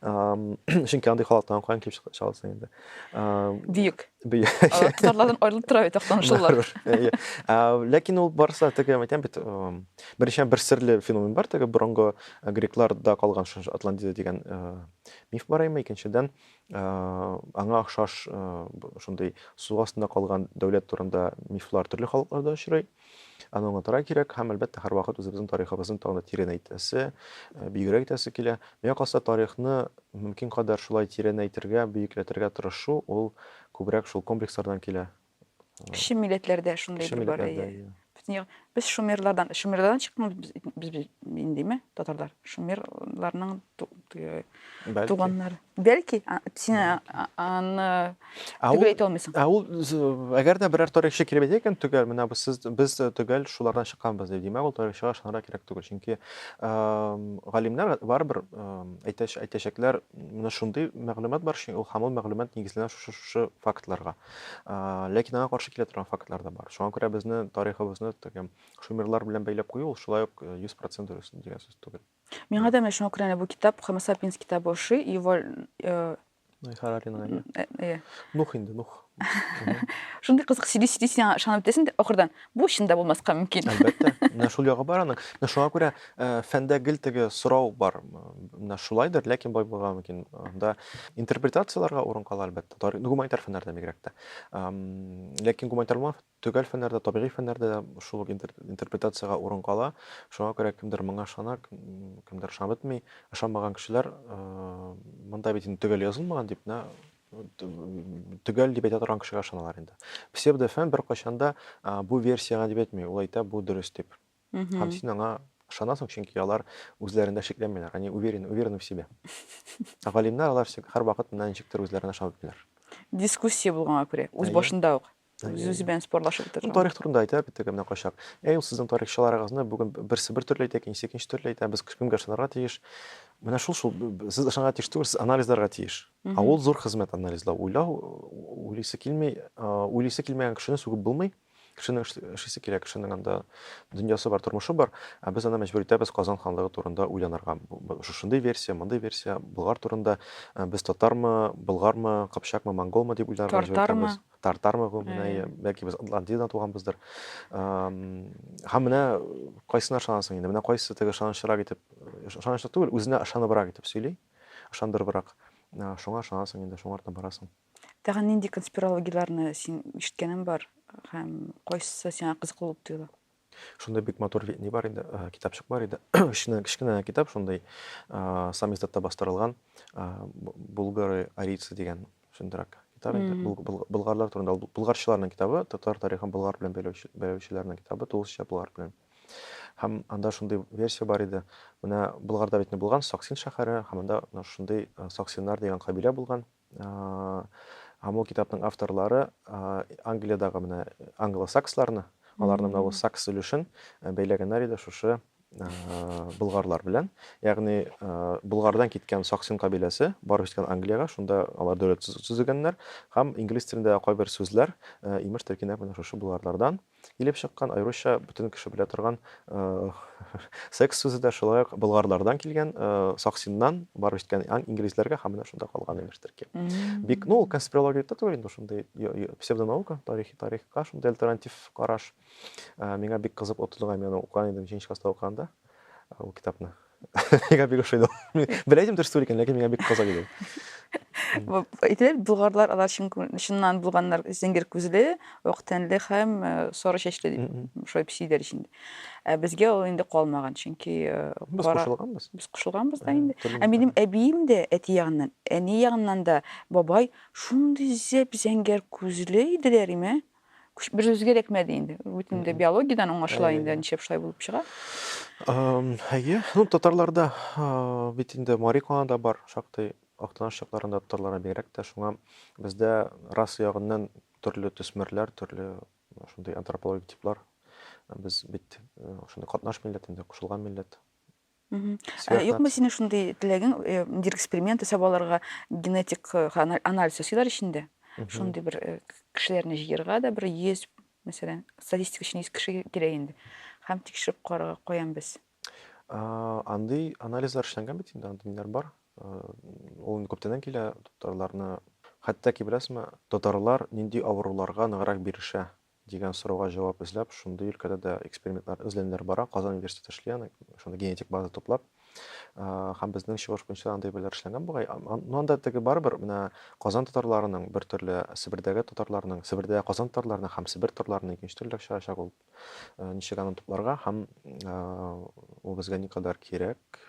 Чөнки андый халыктан каян килеп чыга- чыга алсын инде. Ам, Бөек. бөе- Алар Татарлардан аерылып тора бит актанышлылар. Барыбер. Әйе. А, Ләкин ул барса теге әйтәм бит, эм, беренчедән бер серле феномен бар, теге борынгы э, грекларда калган шушы Атлантида дигән э, миф бар әйме, икенчедән Аңа охшаш шундый су астында калган дәүләт турында мифлар төрле халыкларда очрый. Аны аңлатырга кирәк һәм, әлбәттә, һәрвакыт үзебезнең тарихыбызны тагын да тирәнәйтәсе, бигрәк итәсе килә. Миңа калса, тарихны мөмкин кадәр шулай тирәнәйтергә, бөекләтергә тырышу, ул күбрәк шул комплекслардан килә. Кеше милләтләр дә шундый Кеше бер бар. милләтләр дә, әйе. иә. Бөтен ягы- Без шумерлардан, шумерлардан чыкканбыз без, без, без индеме, татарлар? Шумерларның ту- теге Бәлки. туганнары. Бәлки, а, син а- а- аны Ә төгәл ул- әйтә алмыйсың. Ә ул з- әгәр дә берәр тарихчы килеп әйтә икән, төгәл, менә без сез без э, төгәл шулардан чыкканбыз дип, димәк, ул тарихчыга ышанырга кирәк түгел. Чөнки эм, галимнәр барыбер эм, әйтәч- әйтәчәкләр, менә шундый мәгълүмат бар, чөнки ул һәм ул мәгълүмат нигезләнә шушы шушы фактларга. Ләкин аңа каршы килә торган фактлар да бар. Шуңа күрә безне, тарихыбызны тәкәм шумерлар белән бәйләп кую ул шулай ук 100% дөрес дигән сүз түгел. Миңа да менә шуңа күрә әнә бу китап Homo sapiens китабы ошый. Юваль Ной Хараринга. Иә. Нух инде, Нух. Шундый кызык сөйли-сөйли син аңа ышанып бетәсең дә ахырдан Бу чын да булмаска мөмкин. Әлбәттә. Менә шул ягы бар аның. Менә шуңа күрә э, фәндә гел теге сорау бар. Менә шулайдыр, ләкин бай булырга мөмкин. Анда интерпретацияләргә урын кала, әлбәттә. Тарих, ну, гуманитар фәннәрдә бигрәк тә. Ләкин гуманитар булмаган төгәл фәннәрдә, табигый фәннәрдә дә шул ук интерпретациягә урын кала. Шуңа күрә кемдер моңа ышана, кемдер ышанып бетми. Ышанмаган кешеләр, э, монда бит инде төгәл язылмаган дип, менә төгәл дип әйтә торган кешегә ышаналар инде. Псевдофән беркайчан да бу версияңа дип әйтми, ул әйтә бу дөрес дип. Һәм син аңа ышанасың, чөнки алар үзләрендә шикләнмиләр, они уверены, уверены в себе. Галимнәр алар һәрвакыт менә ничектер үзләренә ышанып бетәләр. Дискуссия булганга күрә, үз башында ук. Зюзи белән спорлашып утырдым. Тарих турында әйтә бит теге менә качак. Әй, ул сезнең тарихчыларыгызны бүген берсе бер төрле әйтә, икенче икенче төрле әйтә. Без кемгә ышанырга тиеш? Менә шул шул сез ышанырга тиеш түгел, сез анализларга тиеш. Ә ул зур хезмәт анализлау, уйлау, уйлыйсы килми, уйлыйсы килмәгән кешене сүгеп булмый. Кешенең эшлисе килә, кешенең анда дөньясы бар, тормышы бар. Ә без аны мәҗбүр итәбез Казан ханлыгы турында уйланырга. Шушындый версия, мондый версия, Болгар турында без татармы, болгармы, кыпчакмы, монголмы дип уйларга мәҗбүр итәбез. Тартармы? Тартармы бу менә, Әйе. бәлки без Атлантидадан туганбыздыр. Ам, Һәм менә кайсына ышанасың инде? Менә кайсы теге ышанычрак итеп, ышанычлы түгел, үзенә ышаныбрак итеп сөйли, ышандырыбрак. А, Шуңа ышанасың инде, шуңа артыннан барасың. Тагын нинди конспирологияләрне син ишеткәнең бар һәм кайсысы сиңа кызыклы булып тоела? Шунда бик матур ни бар иде, э, китапчык бар иде. Кечкенә кечкенә китап шундый, э, самиздатта бастырылган, э, Булгары арийцы дигән шундыйрак китап инде. Болгарлар турында, булгарчыларның китабы, татар тарихын болгар белән бәйләүчеләрнең китабы, тулысынча болгар белән. Һәм анда шундый версия бар иде. Менә Болгарда бит не булган Саксин шәһәре, һәм анда шундый э, Саксиннар дигән кабилә булган. Һәм ул китапның авторлары Англиядагы менә англосаксларны, аларны менә бу сакс өлешен бәйләгәннәр иде шушы болгарлар белән. Ягъни Болгардан киткән Саксин кабиләсе барып җиткән Англиягә, шунда алар дәүләт төзегәннәр һәм инглиз телендә кайбер сүзләр имеш теркинә менә шушы болгарлардан. Килеп чыккан, аеруча бөтен кеше белә торган секс сүзе дә шулай ук болгарлардан килгән, Саксиннан барып җиткән инглизләргә һәм менә шунда калган имештер ки. Бик, ну, конспирология да түгел инде шундый псевдонаука, тарихи тарихка шундый альтернатив караш. Миңа бик кызык отылган, мин аны укыган идем, җенчь класста укыганда. ул китапны. Миңа бик ошый ул. Белә идем дөрес түгел икән, ләкин миңа бик кызык иде. Әйтелә бит, болгарлар алар чыннан булганнар зәңгәр күзле, ак тәнле һәм э, сары чәчле дип, шулай дип сөйлиләр ич инде. Ә безгә ул инде калмаган, чөнки э, Без кара- кушылганбыз. без кушылганбыз да Ә, инде. төрле Ә минем әбием дә әти ягыннан, әни ягыннан да бабай шундый зәп зәңгәр күзле иделәр име, Күш бер үзгә эләкмәде инде. Бөтен дә биологиядән аңлашыла инде, ничек шулай булып чыга. Әйе, ну татарларда бит инде Мари Канада бар, шактый Актаныш чакларында татарларга бигрәк тә шуңа бездә раса ягыннан төрле төсмерләр, төрле шундый антропологик типлар. Без бит шундый катнаш милләт инде, кушылган милләт. Ә юкмы синең шундый теләгең, э, ниндидер эксперимент ясап алырга, генетик э, анализ ясыйлар ич инде. Шундый бер э, кешеләрне җыерга да бер 100, мәсәлән, статистика өчен 100 кеше кирәк инде. Һәм тикшереп карарга каян без. Андый анализлар эшләнгән бит инде, андый ниләр бар. Ул инде күптәннән килә, татарларны хәтта ки беләсезме, татарлар нинди авыруларга ныграк бирешә Дигән сорауга җавап эзләп, шундый өлкәдә дә экспериментлар, эзләнүләр бара. Казан университеты эшли аны, шундый генетик база туплап. Һәм безнең чыгыш буенча андый бәяләр эшләнгән бугай. Но анда теге барыбер менә Казан татарларының бер төрле, Себердәге татарларның, Себердә Казан татарларының һәм Себер татарларының икенче төрлерәк чыгачак ул. Ничек аны тупларга һәм ул безгә никадәр кирәк?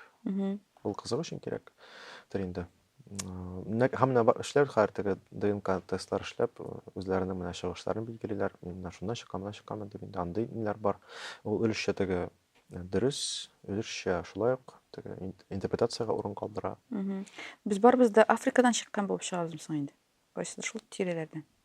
Ул кызык өчен кирәктер инде. Менә һәм менә бар эшләр хәзер теге ДНК тестлар эшләп, үзләренең менә чыгышларын билгелиләр. Мин менә шуннан чыккан, менә чыкканмын дип инде андый ниләр бар. Ул өлешчә теге дөрес, өлешчә шулай ук теге интерпретациягә урын калдыра. Без барыбыз да Африкадан чыккан булып чыгабызмы соң инде? Кайсыдыр шул тирәләрдән.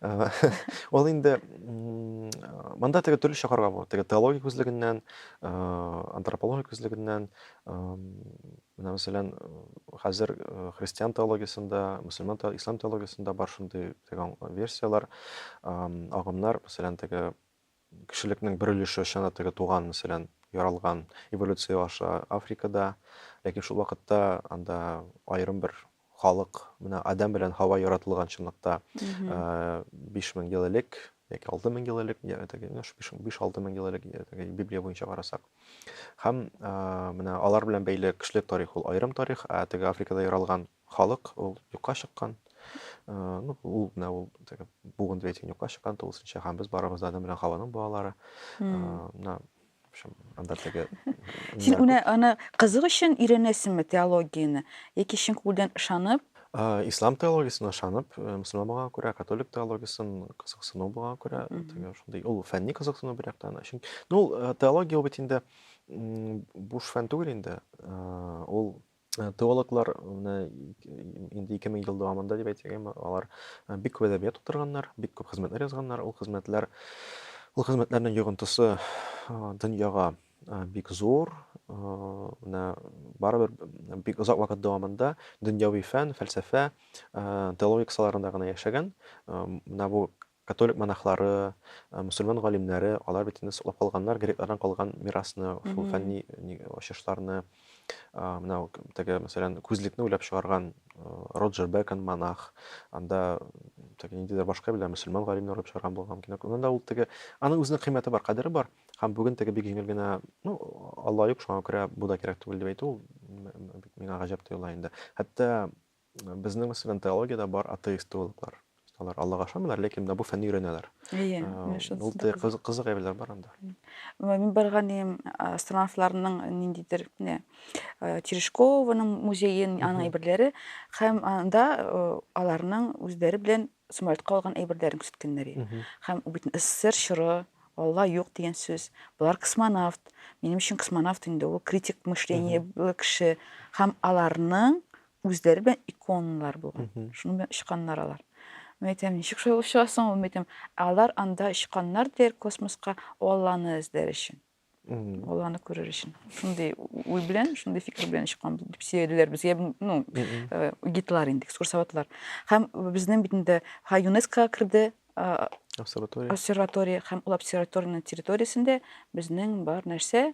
Э, Ул инде м, э, монда теге төрлечә карарга була. Теге теология күзлегеннән, э, антропология күзлегеннән, эм, менә мәсәлән, э, хәзер э, христиан теологиясендә, мөселман те- ислам теологиясендә бар шундый теге аң- версияләр, ам, агымнар, мәсәлән, теге Кешелекнең бер өлеше чын да теге туган, мәсәлән, яралган эволюция аша Африкада, ләкин шул вакытта анда аерым бер халык, менә Адәм белән Һава яратылган чынлыкта 5000 ел элек яки 6000 ел элек, теге 5-6 мең ел элек, теге Библия буенча карасак. Һәм менә алар белән бәйле кешелек тарихы ул аерым тарих, ә теге Африкада яралган Халык ул юкка чыккан. Ну, ул менә ул теге буын ветин юкка чыккан тулысынча һәм без барыбыз да Адам белән Хаваның балалары. Менә общем, анда теге Син уны аны кызык өчен өйрәнәсеңме теологияне яки чын күңелдән ышанып? Ислам теологиясенә ышанып, мөселман булганга күрә, католик теологиясен кызыксыну булганга күрә, теге шундый ул фәнни кызыксыну бер яктан. Чөнки, ну, теология ул бит инде буш фән түгел инде. Ул Э, теологлар менә инде ике мең ел дәвамында дип әйтсәк әмма алар э, бик күп әдәбият тутырганнар бик күп хезмәтләр язганнар ул хезмәтләр ул хезмәтләрнең йогынтысы э, дөньяга бик зур менә барыбер бик озак вакыт дәвамында дөньяви фән фәлсәфә теология кысаларында гына яшәгән менә бу Католик монахлары, мөселман галимнәре, алар бит инде саклап калганнар греклардан калган мирасны, шул фәнни ачышларны. Менә теге, мәсәлән, күзлекне уйлап чыгарган Роджер Бекон монах, анда теге ниндидер башка белән мөселман галимнәр уйлап чыгарган булган мөмкин. Анда да ул теге, аның үзенең кыйммәте бар, кадере бар. Һәм бүген теге бик җиңел генә, ну, Алла юк, шуңа күрә бу да кирәк түгел дип әйтү, ул миңа гаҗәп тоела инде. Хәтта Безнең мәсәлән теологиядә бар атеист теологлар. Алар Аллага ышанмыйлар, ләкин менә бу фәнне өйрәнәләр. Әйе, ул да кызык кызык әйберләр бар анда. Мин барган идем астронавтларның ниндидер менә Терешкованың музеен, аның әйберләре һәм анда аларның үзләре белән Сумаятка алган әйберләрен күрсәткәннәр иде. Һәм бит СССР чоры, Алла юк дигән сүз. Болар космонавт. Минем өчен космонавт инде ул критик мышлениеле кеше. Һәм аларның үзләре белән иконалар булган. Шуның белән очканнар алар. Мин әйтәм, ничек шулай булып чыга соң ул? Мин әйтәм, алар анда очканнар дияр космоска Алланы эзләр өчен. баланы күрер өчен шундый уй белән шундый фикер белән чыкканбыз дип сөйләделәр безгә ну э, гидлар инде экскурсоводлар һәм безнең бит инде һәм юнеско керде обсерватория обсерватория һәм ул обсерваториянең территориясендә безнең бар нәрсә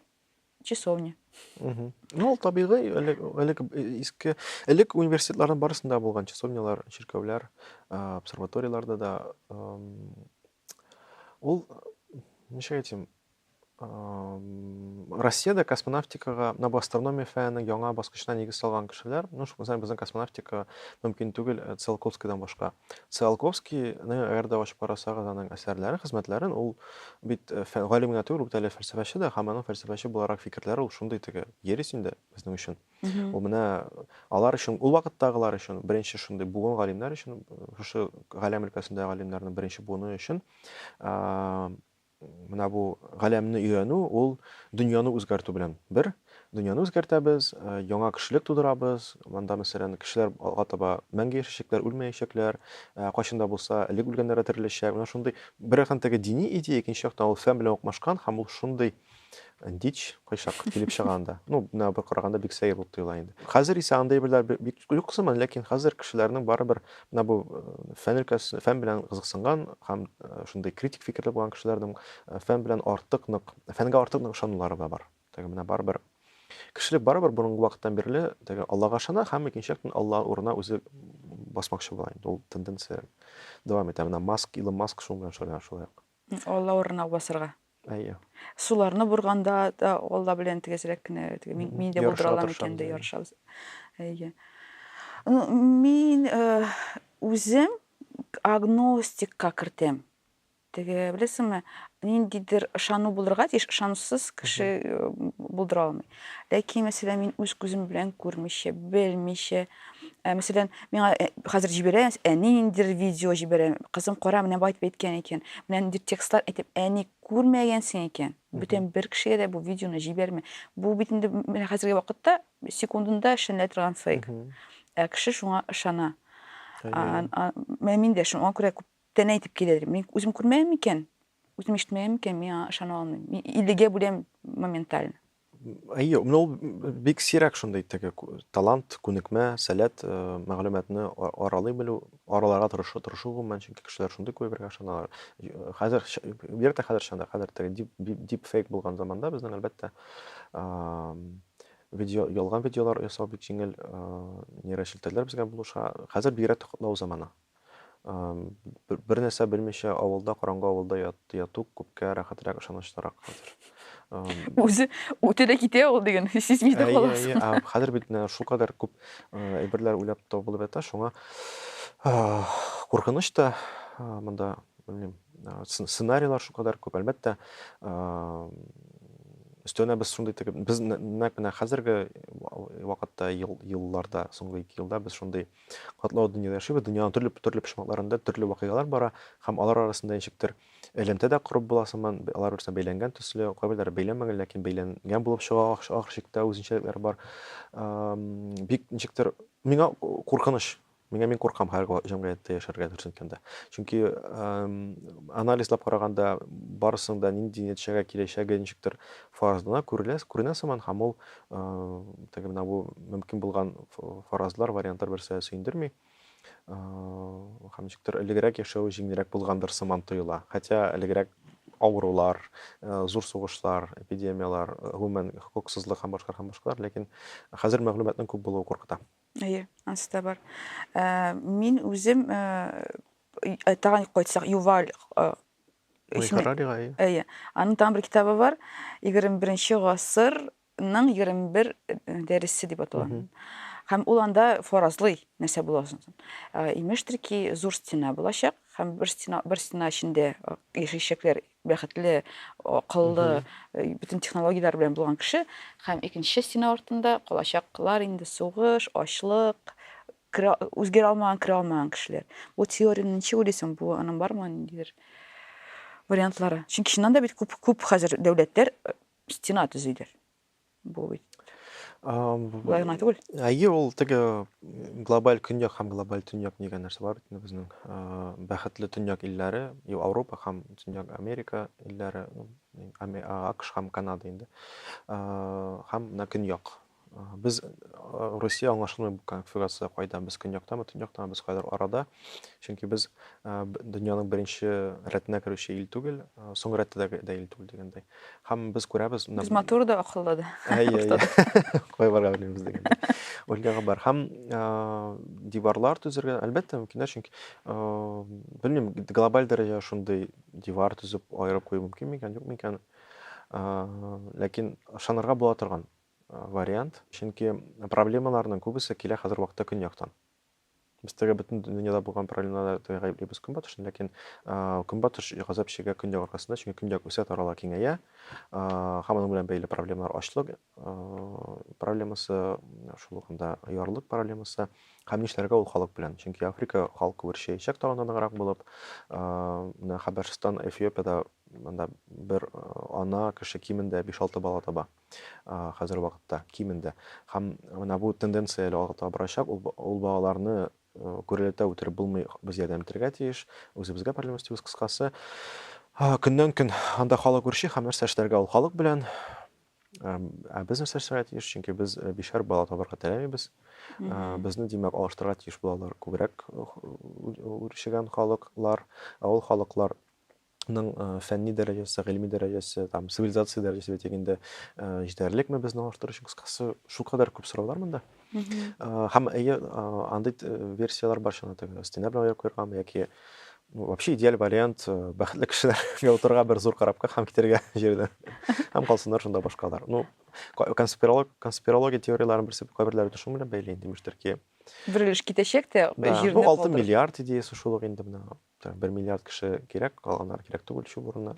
часовня ну ул табигый элек элек иске элек университетларның барысында булган часовнялар чиркәүләр обсерваторияларда да ул ничек әйтим Россиядә космонавтикага набу астрономия фәненең яңа баскычына нигез салган кешеләр, ну, шул мәсәлән, безнең космонавтика мөмкин түгел э, Циолковскийдан башка. Циолковскийны әгәр дә ачып карасагыз аның әсәрләрен, хезмәтләрен, ул бит э, фән галим генә түгел, бит әле фәлсәфәче дә, һәм аның фәлсәфәче буларак фикерләре ул шундый теге ерис инде безнең өчен. Ул менә алар өчен, ул вакыттагылар өчен беренче шундый буын галимнәр өчен, э, шушы галәм өлкәсендә галимнәрнең беренче буыны өчен Менә бу галәмне өйрәнү, ул дөньяны үзгәртү белән бер. Дөньяны үзгәртәбез, яңа кешелек тудырабыз. Монда, мәсәлән, кешеләр алга таба мәңге яшәячәкләр, үлмәячәкләр. Кайчан да булса, элек үлгәннәр дә тереләчәк. Менә шундый, бер яктан, теге дини идея, икенче яктан, ул фән белән укмашкан һәм ул шундый Дич, кайчак килеп чыга анда. Ну, менә бер караганда бик сәер булып тоела инде. Хәзер исә андый әйберләр бик юк сыман, ләкин хәзер кешеләрнең барыбер менә бу э, фән өлкәсе, фән белән кызыксынган һәм э, шундый критик фикерле булган кешеләрнең э, фән белән артык нык, фәнгә артык нык ышанулары да бар. Теге менә барыбер кешелек барыбер борынгы вакыттан бирле теге Аллага ышана һәм икенче яктан Алла урына үзе басмакчы була инде. Ул тенденция дәвам итә. Менә Маск, Илон Маск шуның белән шөгыльләнә шулай ук. Алла урынына басырга. Әйе. Суларны бурганда да Алла белән тигезрәк кенә теге мин, мин дә булдыра алам икән дә ярышабыз. Әйе. Ну, мин э, үзем агностикка кертәм. Теге, беләсеңме, ниндидер ышану булырга тиеш, ышанусыз кеше э, булдыра алмый. Ләкин, мәсәлән, мин үз күзем белән күрмичә, белмичә, ә, мәсәлән, миңа э, хәзер җибәрә, әни ниндидер видео җибәрә, кызым, кара, менә бу әйтеп әйткән икән, менә ниндидер текстлар әйтеп, әни күрмәгәнсең икән, бүтән бер кешегә дә бу видеоны җибәрмә. Бу бит инде менә хәзерге вакытта секундында эшләнелә торган фейк. Ә кеше шуңа ышана. А, а, Менә мин дә шуңа күрә күптән әйтеп киләдер. Мин үзем күрмәгән микән? Үзем ишетмәем икән, мин аңа ышана алмыйм. Мин иллегә бүләм моментально. Әйе, менә ул бик сирәк шундый теге талант, күнекмә, сәләт, э, мәгълүматны аралый белү, араларга тырышу, тырышу гомумән, чөнки кешеләр шундый күрергә ышаналар. Э, хәзер бигрәк тә хәзер чанда, хәзер теге дип дип фейк булган заманда безнең әлбәттә видео ялган видеолар ясау бик җиңел, э, нейрошелтәрләр безгә булыша. Хәзер бигрәк тә котлау заманы. Бер нәрсә белмичә авылда, караңгы авылда яту күпкә рәхәтрәк, ышанычлырак хәзер. Үзе үтә дә китә ул диген, сизми дә каласың. Әйе, әйе. Хәзер бит шул кадәр күп әйберләр уйлап табылып ята, шуңа куркыныч та монда, белмим, сценарийлар шул кадәр күп. Әлбәттә, өстәвенә без шундый итеп, без нәкъ менә хәзерге вакытта, елларда, соңгы ике елда без шундый Катлаулы дөньяда яшибез, дөньяның төрле төрле почмакларында төрле вакыйгалар бара һәм алар арасында ничектер элемтә дә корып була сыман, алар бер-берсенә бәйләнгән төсле, кайберләре бәйләнмәгән, ләкин бәйләнгән булып чыга ахр- ахыр чиктә үзенчәлекләре бар. Ам, Бик ничектер миңа куркыныч. Миңа мин куркам һәр ва- җәмгыятьтә яшәргә дөресен әйткәндә. Чөнки ам, анализлап караганда барысының да нинди нәтиҗәгә киләчәге ничектер фаразлана, күрелә, күренә сыман һәм ул Теге менә бу мөмкин булган фаразлар, вариантлар берсә сөендерми. Һәм ничектер элегрәк яшәү җиңелрәк булгандыр сыман тоела. Хотя элегрәк авырулар, зур сугышлар, эпидемияләр, гомумән хокуксызлык һәм башкалар һәм башкалар, ләкин хәзер мәгълүматның күп булуы куркыта. Әйе, ансы да бар. Мин үзем Э, тагын кайтсак юваль э, әйе аның тагын бер китабы бар егерме беренче гасырның егерме бер э, дәресе дип атала һәм ул анда фаразлый нәрсә була ә, имештер ки зур стена булачак һәм бер стена бер стена эчендә яшәячәкләр бәхетле акыллы бөтен технологияләр белән булган кеше һәм икенче стена артында калачаклар инде сугыш ачлык Керә, үзгәрә алмаган, керә алмаган кешеләр. Бу теорияне ничек уйлыйсың? Бу аның бармы ниндидер вариантлары? Чөнки чыннан да бит күп күп хәзер дәүләтләр э, стена төзиләр. Бу бит Болай гына түгел. Әйе, ул теге глобаль көньяк һәм глобаль төньяк дигән нәрсә бар бит безнең. Бәхетле төньяк илләре, Европа һәм төньяк Америка илләре, ну, АКШ һәм Канада инде. Һәм менә көньяк Без Русия аңлашылмый бу конфигурация кайда, без көньяктамы, төньяктамы, без кайдыр арада. Чөнки без дөньяның беренче рәтенә керүче ил түгел, соң рәттә дә ил түгел дигәндәй. Һәм без күрәбез. Без матур да, акыллы да. Әйе. Кай барга белмибез дигәндәй. Ольгага бар. Һәм диварлар төзергә, әлбәттә, мөмкиннәр, чөнки белмим, глобаль дәрәҗә шундый дивар төзеп аерып кую мөмкин микән, юк микән? Ләкин ышанырга була торган. вариант, чөнки проблемаларның күбесе килә хәзер вакытта көньяктан. Без теге бөтен дөньяда булган проблемаларда гаеплибез көнбатышны, ләкин көнбатыш газап чигә көньяк аркасында, чөнки көньяк үсә тарала киңәя. Һәм аның белән бәйле проблемалар ачлык проблемасы, шул ук анда ярлык проблемасы. Һәм нишләргә ул халык белән? Чөнки Африка халкы үрчәячәк таланданыграк булып, менә Хәбәрстан, Эфиопиядә монда бер ана кеше кимендә 5-6 бала таба. хәзерге вакытта кимендә. Һәм менә бу тенденция әле арта барачак. Ул балаларны гүрәләтә үтереп булмый, без ярдәм итәргә тиеш. Үзебезгә проблема өстибез, кыскасы. Көннән-көн анда халык үрчи һәм нәрсә эшләргә ул халык белән. Ә без нәрсә эшләргә тиеш? Чөнки без бишәр бала табарга теләмибез. Безне, димәк, алыштырырга тиеш булалар күбрәк үрчегән халыклар. Ә ул халыклар ның фәнни дәрәҗәсе, гыйльми дәрәҗәсе, там цивилизация дәрәҗәсе дип әйтик инде, җитәрлекме безне алыштыру өчен кыскасы шул кадәр күп сораулар монда. Һәм әйе, андый версияләр бар шуны теге стена белән аяк куергамы яки ну, вообще идеаль вариант бәхетле кешеләргә утырырга бер зур корабка һәм китәргә җирдән. Һәм калсыннар шунда башка алар. Ну, конспиролог, конспирология теорияләрен берсе кайберләре дә шуның белән бәйле инде, имештер ки. Бер өлеш китәчәк тә, җирне калдырып. Бу 6 миллиард идеясе шул ук инде менә. Бер миллиард кеше кирәк, калганнар кирәк түгел шул урынына.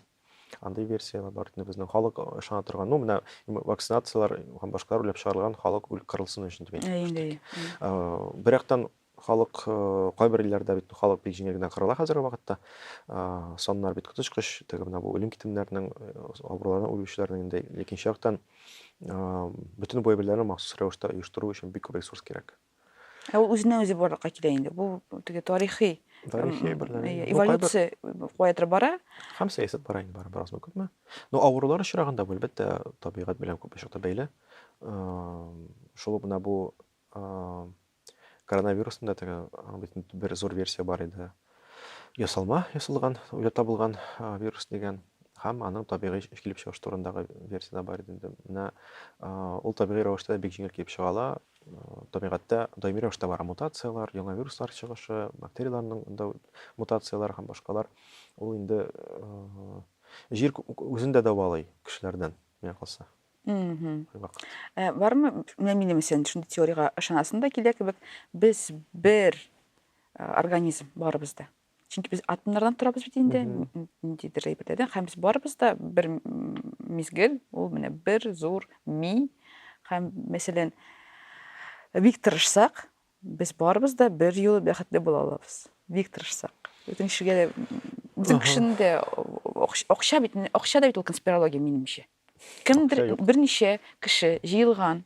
Андый версияләр бар. Инде безнең халык ышана торган, ну, менә вакцинацияләр һәм башкалар үлеп чыгарылган халык үлеп кырылсын өчен дип әйтәләр. Бер яктан халык кайбер илләрдә бит халык бик җиңел генә кырыла хәзерге вакытта. Саннар бит коточкыч, теге менә бу үлем-китемнәрнең, авырулардан үлүчеләрнең инде. Икенче яктан, бөтен бу әйберләрне махсус рәвештә оештыру өчен бик күп ресурс кирәк. Ә ул үзеннән үзе барлыкка килә инде. Бу теге тарихи тарихи берләге. Эволюция каядыр бара. Һәм сәясәт бара инде бары бераз күпме. Ну авырулар очрагында бу әлбәттә табигать белән күп очракта бәйле. Шул гына бу коронавирусында теге бөтен бер зур версия бар иде. Ясалма ясалган, уйлап табылган вирус дигән һәм аның табигый килеп чыгыш турындагы версия да бар иде. Менә ул табигый рәвештә бик җиңел килеп чыга ала. табигатьтә даими рәвештә бара мутацияләр, яңа вируслар чыгышы, бактерияләрнең да мутацияләре һәм башкалар. Ул инде җир үзен дә дәвалый кешеләрдән, миңа калса. Э, бармы, менә минем өчен шундый теориягә ышанасың да килә кебек, без бер э, организм барыбыз да. чөнки без атомнардан торабыз бит инде ниндидер әйберләрдән һәм без барыбыз да бер мизгел ул менә бер зур ми һәм мәсәлән бик тырышсак без барыбыз да бер юлы бәхетле була алабыз бик тырышсак бөтен кешегә дә бөтен кешенең дә акча бит акча да бит ул конспирология минемчә кемдер берничә кеше җыелган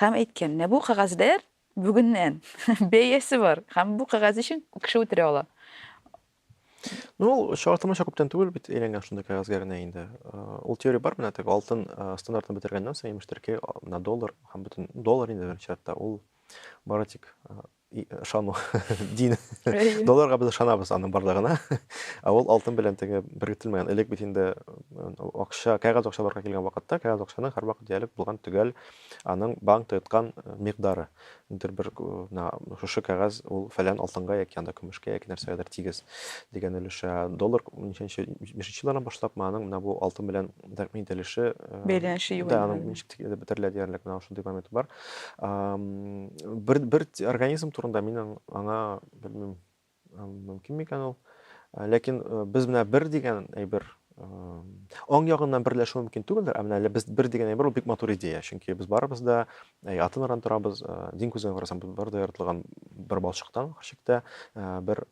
һәм әйткән менә бу кәгазьләр Бүгеннән бәясе бар һәм бу кәгазь өчен кеше үтерә ала. Ну, ул чагылтамача күптән түгел бит әйләнгән шундый кәгазьгә генә инде. Ул теория бар менә теге алтын стандартын бетергәннән соң имеш төрки на доллар һәм бөтен доллар инде беренче чиратта ул бары тик ышану дин долларга без ышанабыз аның барлыгына ә ул алтын белән теге беркетелмәгән элек бит инде акча кәгазь акчаларга килгән вакытта кәгазь акчаның һәрвакыт диярлек булган төгәл аның банк тоткан микъдары, дер бер на шушы кәгазь ул фәлән алтынга яки анда көмешкә яки нәрсәгәдер тигез дигән өлеше, ә доллар ничәнче бишенче еллардан башлап ма аның менә бу алтын белән тәэмин ителеше, бәйләнеше юк, да аның ничек тик бетерелә диярлек менә шундый момент бар. Бер бер организм турында мин аңа белмим, Мөмкин микән ул? Э, ләкин э, без менә бер дигән әйбер э, аң ягыннан берләшү мөмкин түгелдер, ә менә әле без бер дигән әйбер ул бик матур идея, чөнки без барыбыз да атын аран торабыз, дин күзеннән карасаң, без бар да яратылган бер балчыктан, хөрчектә бер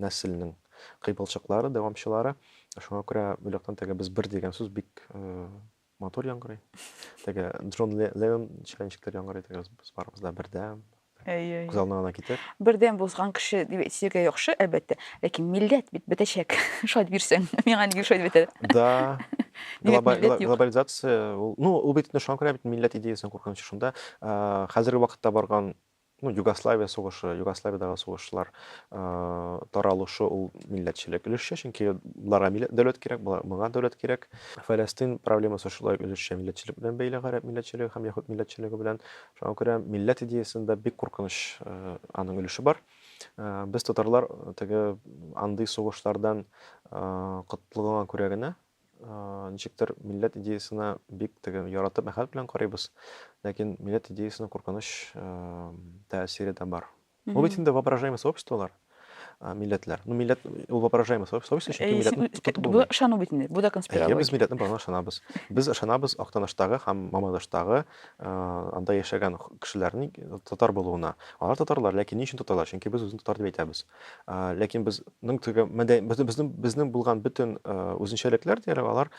нәселнең кыйпылчыклары, дәвамчылары. Шуңа күрә бу яктан теге без бер дигән сүз бик Матур яңгырый. Теге Джон Леннон шәленчекләр яңгырый теге без барыбыз да бердәм. Әйе. Күз алдына гына китер. Бердәм булган кеше дип әйтергә яхшы, әлбәттә. Ләкин милләт бит бетәчәк. Шат бирсәң, миңа нигә шат бетә? Да. Глобализация, ну, ул бит шуңа күрә бит милләт идеясен куркынычы шунда. Хәзерге вакытта барган ну, Югославия сугышы, Югославиядагы сугышлар таралышы ул милләтчелек өлешчә, чөнки боларга милләт дәүләт кирәк, моңа дәүләт кирәк. Фәләстин проблемасы шулай өлешчә милләтчелек белән бәйле, гарәп милләтчелеге һәм яһуд милләтчелеге белән. Шуңа күрә милләт идеясендә бик куркыныч аның өлеше бар. Без татарлар теге андый сугышлардан котлыгына күрә генә Ничектер милләт идеясына бик теге яратып, мәхәббәт белән карыйбыз, ләкин милләт идеясына куркыныч тәэсире дә бар. Бу бит инде воображаемый сообществолар, милләтләр. Ну, милләт ул воображаемый сообщество, чөнки милләтне тотып булмый. Бу ышану бит инде, бу да конспирология. Без милләтнең барына ышанабыз. Без ышанабыз Актаныштагы һәм Мамадыштагы анда яшәгән кешеләрнең татар булуына. Алар татарлар, ләкин ни өчен татарлар? Чөнки без үзен татар дип әйтәбез. ләкин безнең теге безнең безнең булган бөтен үзенчәлекләр диярлек алар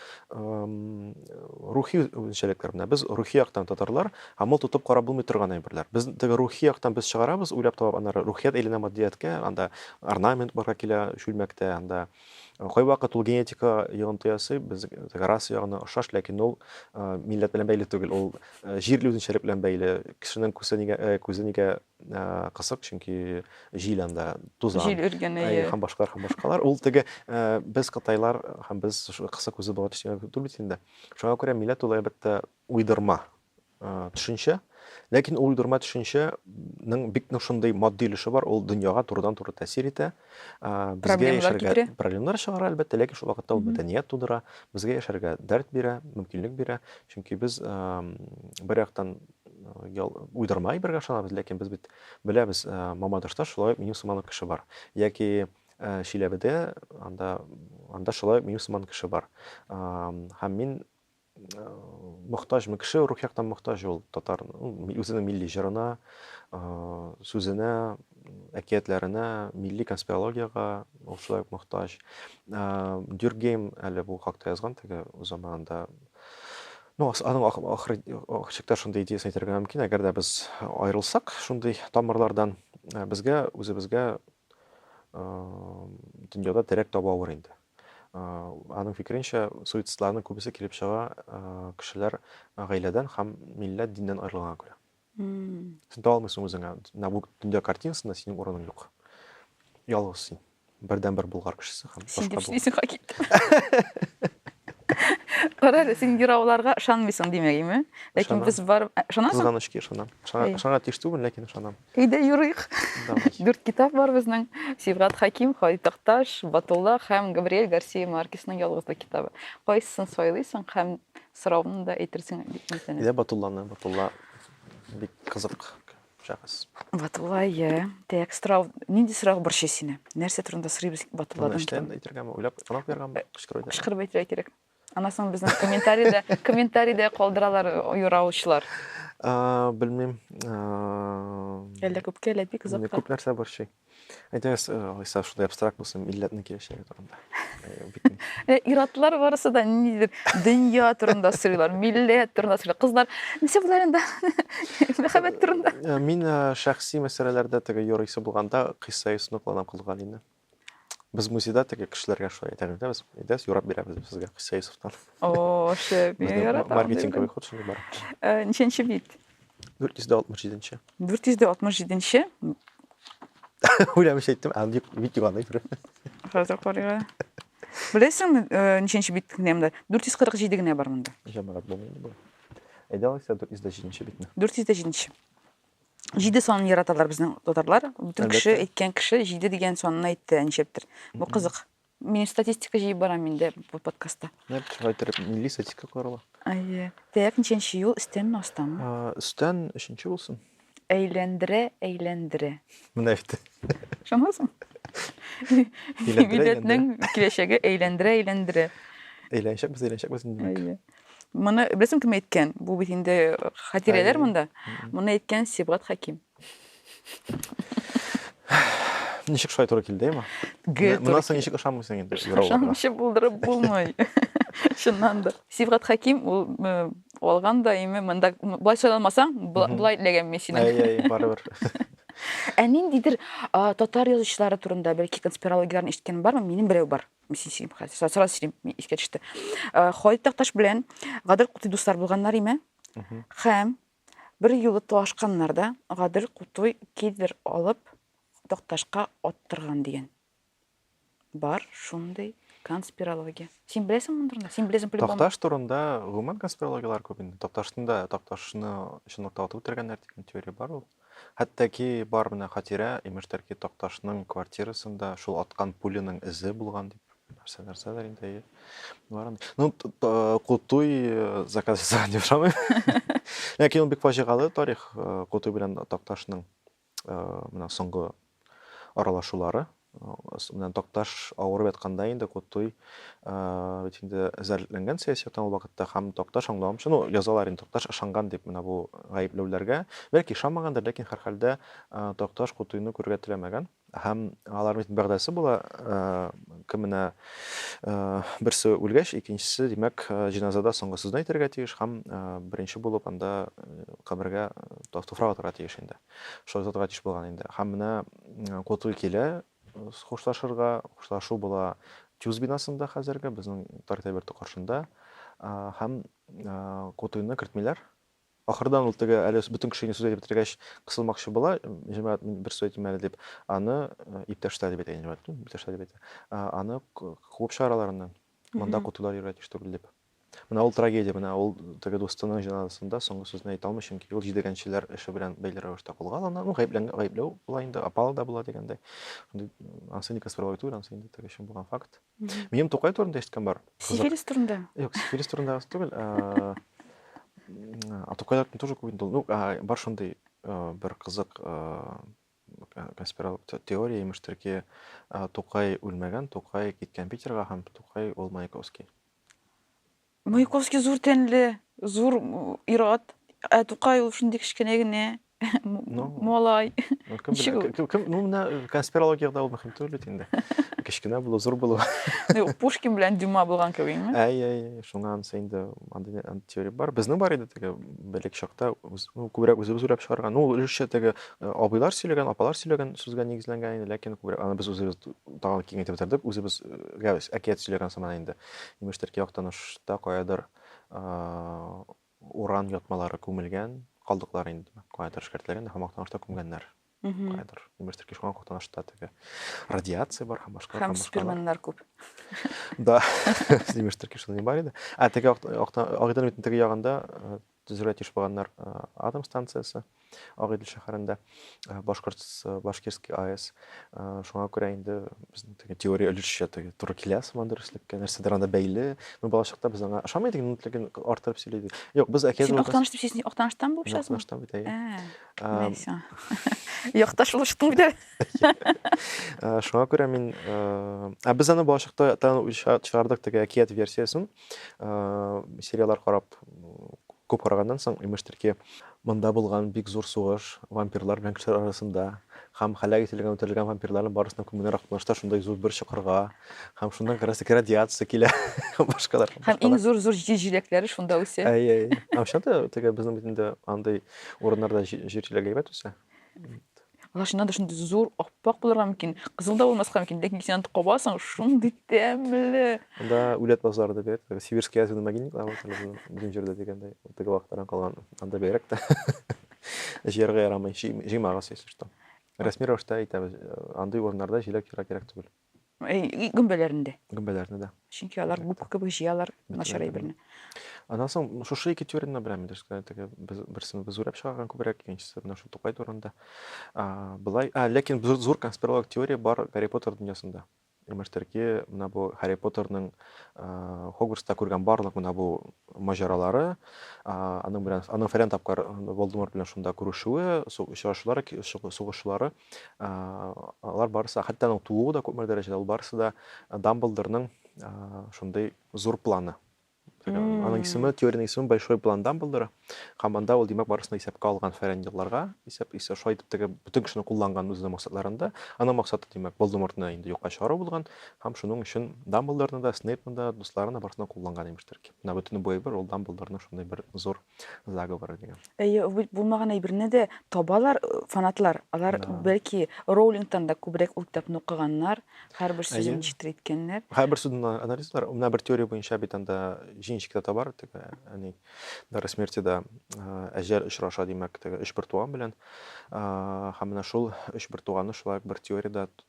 рухи үзенчәлекләр менә без рухи яктан татарлар һәм ул тотып карап булмый торган әйберләр без теге рухи яктан без чыгарабыз уйлап табып аннары рухият әйләнә матдияткә анда орнамент барга килә чүлмәктә анда кайвакыт ул генетика йогынты ясый без раса ягына ошаш ләкин ул милләт белән бәйле түгел ул җирле үзенчәлек белән бәйле кешенең күсе нигә күзе нигә кысык чөнки җил анда тузан җил өргәне һәм башкалар һәм башкалар ул теге без кытайлар һәм без кысык үзе бала төшенә түгел бит инде шуңа күрә милләт ул әлбәттә уйдырма төшенчә ләкин ул уйдырма төшенчәнең бик нык шундый матди өлеше бар ул дөньяга турыдан туры тәэсир итә безгә яшәргә проблемалар чыгара әлбәттә ләкин шул вакытта ул мәдәният тудыра безгә яшәргә дәрт бирә мөмкинлек бирә чөнки без бер яктан ял, уйдырма әйбергә ышанабыз, ләкин без бит беләбез, э, Мамадышта шулай ук минем сыман кеше бар. Яки э, Чиләбедә анда анда шулай ук минем сыман кеше бар. Һәм мин э, мохтажмы кеше рух яктан мохтаж ул татар ну, үзенең милли җырына, сүзенә, әкиятләренә, милли конспирологиягә ул шулай ук мохтаж. Дюргейм әле бу хакта язган теге заманында Ну, аның ахыр чиктә шундый идеясын әйтергә мөмкин, әгәр дә без аерылсак шундый тамырлардан, э, безгә үзебезгә э, дөньяда терәк табу авыр инде. Э, аның фикеренчә, суицидстларның күбесе килеп чыга кешеләр гаиләдән һәм милләт, диннән аерылганга күрә. сен таба алмыйсың үзеңә менә бу дөнья картинасында синең урының юк ялгыз син бердән бер болгар кешесе һәм син дип эшлисең хакит карале син юрауларга ышанмыйсың димәгеме ләкин без бар ышанасың кызганычка ышанам ышанырга тиеш түгел ләкин ышанам әйдә юрыйк дүрт китап бар безнең сибгат хаким халит такташ батулла һәм габриэль гарсия маркесның ялгызлык китабы кайсысын сайлыйсың һәм Соравымны да әйтерсең бик мәсәнә. Йә Батулланы, Батулла бик кызык шәхес. Батулла, йә. Тәк, сорау, нинди сорау борчый сине? Нәрсә турында сорыйбыз Батулладан? Моны эштән әйтергәме, уйлап, анап куяргамы, кычкырып әйтергәме? Кычкырып әйтергә кирәк. Аннан соң безнең комментариядә, комментариядә калдыралар юраучылар. Белмим. Әллә күпкә, әллә бик озакка. Күп нәрсә борчый. Әйтегез, э, Гайса, шундый абстракт булсын, милләтнең киләчәге турында. Э, Иратлар барысы да нидер дөнья турында сөйлиләр, милләт турында сөйлиләр. Кызлар нәрсә булар инде? Мәхәббәт турында. Э, мин шәхси мәсьәләләрдә теге юрисы булганда кыйсса ясыны кулланам Кылгалине. Без музейда теге кешеләргә шулай әйтәбез дә без. Әйдәс, юрап бирәбез без сезгә кыйсса ясыфтан. О, шәп. Маркетинг кебек хут шундый бар. Ничәнче бит? 467 нче 467 нче Уйләмешәйттем, ә дип бит юганы бер. Хәзер карыйга. Беләсеңме, э, ничәнче бит генәмдә? 447 генә бар монда. Җәмәгать булмый бу. Әйдә алайса 407 битне. 407. Җиде санын яраталар безнең татарлар. Бүтән кеше әйткән кеше җиде дигән санны әйтте, әнчәптер. Бу кызык. Мин статистика җыеп барам инде бу подкастта. Нет, шулай итеп милли статистика карала. Әйе. Тәяк ничәнче юл, өстәнме, астамы? А, Өстән өченче булсын. Әйләндерә, әйләндерә. Менә бит. Ышанасың? Әйләндерә, Милләтнең киләчәге әйләндерә, әйләндерә. Әйләнчәкбез, әйләнчәкбез инде. димәк. Әйе. Моны беләсең кем әйткән? Бу бит инде хатирәләр Әйе. монда. Мгм. Моны әйткән Сибгат Хәким. Ничек шулай туры килде, Эмма? Гел туры Моннан соң ничек ышанмыйсың инде? Ышанмыйча булдырып булмый. Чыннан да. Сибгат Хәким ул э, алган да име монда былай сайламасаң, былай ләгән мин синең. Әй, әй, барыбер. Ә ниндидер татар язучылары турында бәлки конспирологияләрне ишеткән бармы? Минем берәү бар. Мисин сөйлим хәзер. Сара сөйлим, искә төште. Халит Такташ белән Гадел Кути дуслар булганнар име? Хәм Бер юлы талашканнар да, Гадел Кутуй кедр алып, Такташка аттырган дигән. Бар шундый конспирология. Син беләсең моны турында? Син беләсең по-любому. Такташ турында гомумән конспирологияләр күп инде. Такташны да, Такташны чынлыкта атып үтергәннәр дигән теория бар ул. Хәтта ки бар менә хатирә, имештер ки Такташның квартирасында шул аткан пуляның эзе булган дип. Нәрсә, нәрсәләр инде әйе. Барын. Ну, Кутуй э, заказ ясаган дип ошамый. Ләкин ул бик фаҗигале тарих э, Кутуй белән Такташның э, менә соңгы аралашулары. Менә Такташ авырып ятканда инде Кутуй бит инде зәрләнгән сәясәттән ул вакытта һәм Такташ аңламчы, ну, язалар инде Такташ ышанган дип менә бу гаепләүләргә. Бәлки ышанмагандыр, ләкин һәрхәлдә Такташ Кутуйны күрергә теләмәгән. Һәм алар бит бәгъдәсе була, кем менә берсе үлгәч, икенчесе, димәк, җиназада соңгы сүзне әйтергә тиеш һәм беренче булып анда кабергә туфрак атырга тиеш инде. Шулай затга тиеш булган инде. Һәм менә Котый килә хушлашырга, хушлашу була Тюз бинасында хәзерге безнең Таркайберты каршында һәм Котыйны кертмиләр, Ахырдан ул теге әле бөтен кешегә сүз әйтеп бетергәч кысылмакчы була, җәмәгать, мин бер сүз әйтим әле дип, аны иптәшләр дип әйтә инде җәмәгать, иптәшләр дип әйтә. Аны куып чыгара аларны. Монда котылар йөрергә тиеш түгел дип. Менә ул трагедия, менә ул теге дустының җеназасында соңгы сүзне әйтә алмый, чөнки ул җидегәнчеләр эше белән бәйле рәвештә кулга алына. Ну, гаепләнгән, гаепләү була инде, опал да була дигәндәй. Ансы никас бер түгел, ансы инде теге чын булган факт. Минем Тукай турында ишеткән бар. Сифилис турында? Юк, сифилис турында гына түгел. А Тукайларда тоже күп инде. Ну, бар шундый бер кызык конспиролог теория имештирки, Тукай үлмәгән, Тукай киткән Питерга һәм Тукай ул Маяковский. Маяковский зур тәнле, зур ир-ат. Ә Тукай ул шундый кечкенә генә ну, малай. Ну, кем Ничек ул? Кем, кем, ну, менә конспирологиядә ул мөһим түгел бит инде. Кечкенә булу, зур булу. Ну, Пушкин белән Дюма булган кебекме? Әй, әй, шуңа ансы инде андый теория бар. Безнең бар иде теге белек чакта, ну, күбрәк үзебез уйлап чыгарган. Ну, өлешчә теге э, абыйлар сөйләгән, апалар сөйләгән сүзгә нигезләнгән иде, ләкин күбрәк аны без үзебез тагын киңәйтеп бетердек, үзебезгә э, әкият сөйләгән сыман инде. Имештер ки, Актанышта каядыр уран ятмалары күмелгән, калдыклар инде, димәк, каядыр эшкәртелгән һәм Актанышта күмгәннәр. Каядыр. Имештер ки, шуңа Актанышта теге радиация бар һәм башка. Һәм спирменнар күп. Да, имештер ки, шуның бар иде. Ә теге Агыйдел бит теге ягында Төзергә тиеш булганнар атом станциясе Агыйдел шәһәрендә, Башкортс, Башкирский АЭС. Шуңа күрә инде безнең теге теория өлешчә теге туры килә сыман дөреслеккә, нәрсәдер анда бәйле. Мы балачакта без аңа ошамый идек, но ләкин артырып сөйли идек. Юк, без әкият Син Актаныш дип син Актаныштан булып чыгасың? Актаныштан бит әйе. Нәрсә? Якташ булыштың бит. Шуңа күрә мин, ә без аны балачакта чыгардык теге әкият версиясен. Сериалар карап күп караганнан соң, имештер ки, монда булган бик зур сугыш, вампирлар белән кешеләр арасында һәм һәлак ителгән, үтерелгән вампирларның барысына күмүләр акмышта шундай зур бер чокырга һәм шуннан как раз радиация килә башкалар. Һәм иң зур-зур җир җиләкләре шунда үсә. Әйе, әйе. Ә чынлап та, теге безнең бит инде андый урыннарда җир җиләге әйбәт үсә. Лашына да шундый зур аппак булырга мөмкин, кызыл да булмаска мөмкин, ләкин син аны кабасың, шундый тәмле. Анда үләт базлары да бирәт, сибирский азуны могильниклар бар, безнең җирдә дигәндә, теге вакыттан калган, анда бигрәк тә җыярга ярамый, җыймагыз, если что. Рәсми рәвештә әйтәбез, андый урыннарда җиләк җыярга кирәк түгел. Э, гөмбәләрне дә. Гөмбәләрне дә. Чөнки алар губка кебек җыялар начар әйберне. Аннан соң шушы ике теорияне беләм инде. Теге без берсен без үрәп чыгарган күбрәк, икенчесе менә шул Тукай турында. А, былай, а, ләкин зур, зур конспиролог теория бар Гарри Поттер дөньясында. Имештәрки, менә бу Гарри Поттерның Хогвартста күргән барлык менә бу маҗаралары, аның белән, аның фәлән тапкыр Волдеморт белән шунда күрешүе, очрашулары, сугышлары, алар барысы хәтта аның тууы да күпмедер дәрәҗәдә ул барысы да дамблдорның шундый зур планы аның исеме теорияның исеме большой план дамблдора һәм анда ул димәк барысын исәпкә алган фәрән елларга исәп исә шулай итеп теге бөтен кешене кулланган үзенең максатларында аның максаты димәк болдемортны инде юкка чыгару булган һәм шуның өчен дамблдорны да снейпны да дусларын да барысын кулланган имештер менә бөтен бу әйбер ул дамблдорның шундый бер зур Заговоры дигән. Әйе, бит булмаган әйберне дә табалар э, фанатлар. Алар Да. бәлки Роулингтан да күбрәк ул китапны укыганнар, һәрбер сүзен Әйе. ничектер әйткәннәр. Һәрбер сүзен а- анализлар. Менә бер теория буенча бит анда җинчик тә табар, теге, әни, дары смерти да а, әҗәл очраша, димәк, теге өч бертуган белән. А, Һәм менә шул өч бертуганны шулай ук бер теориядә т-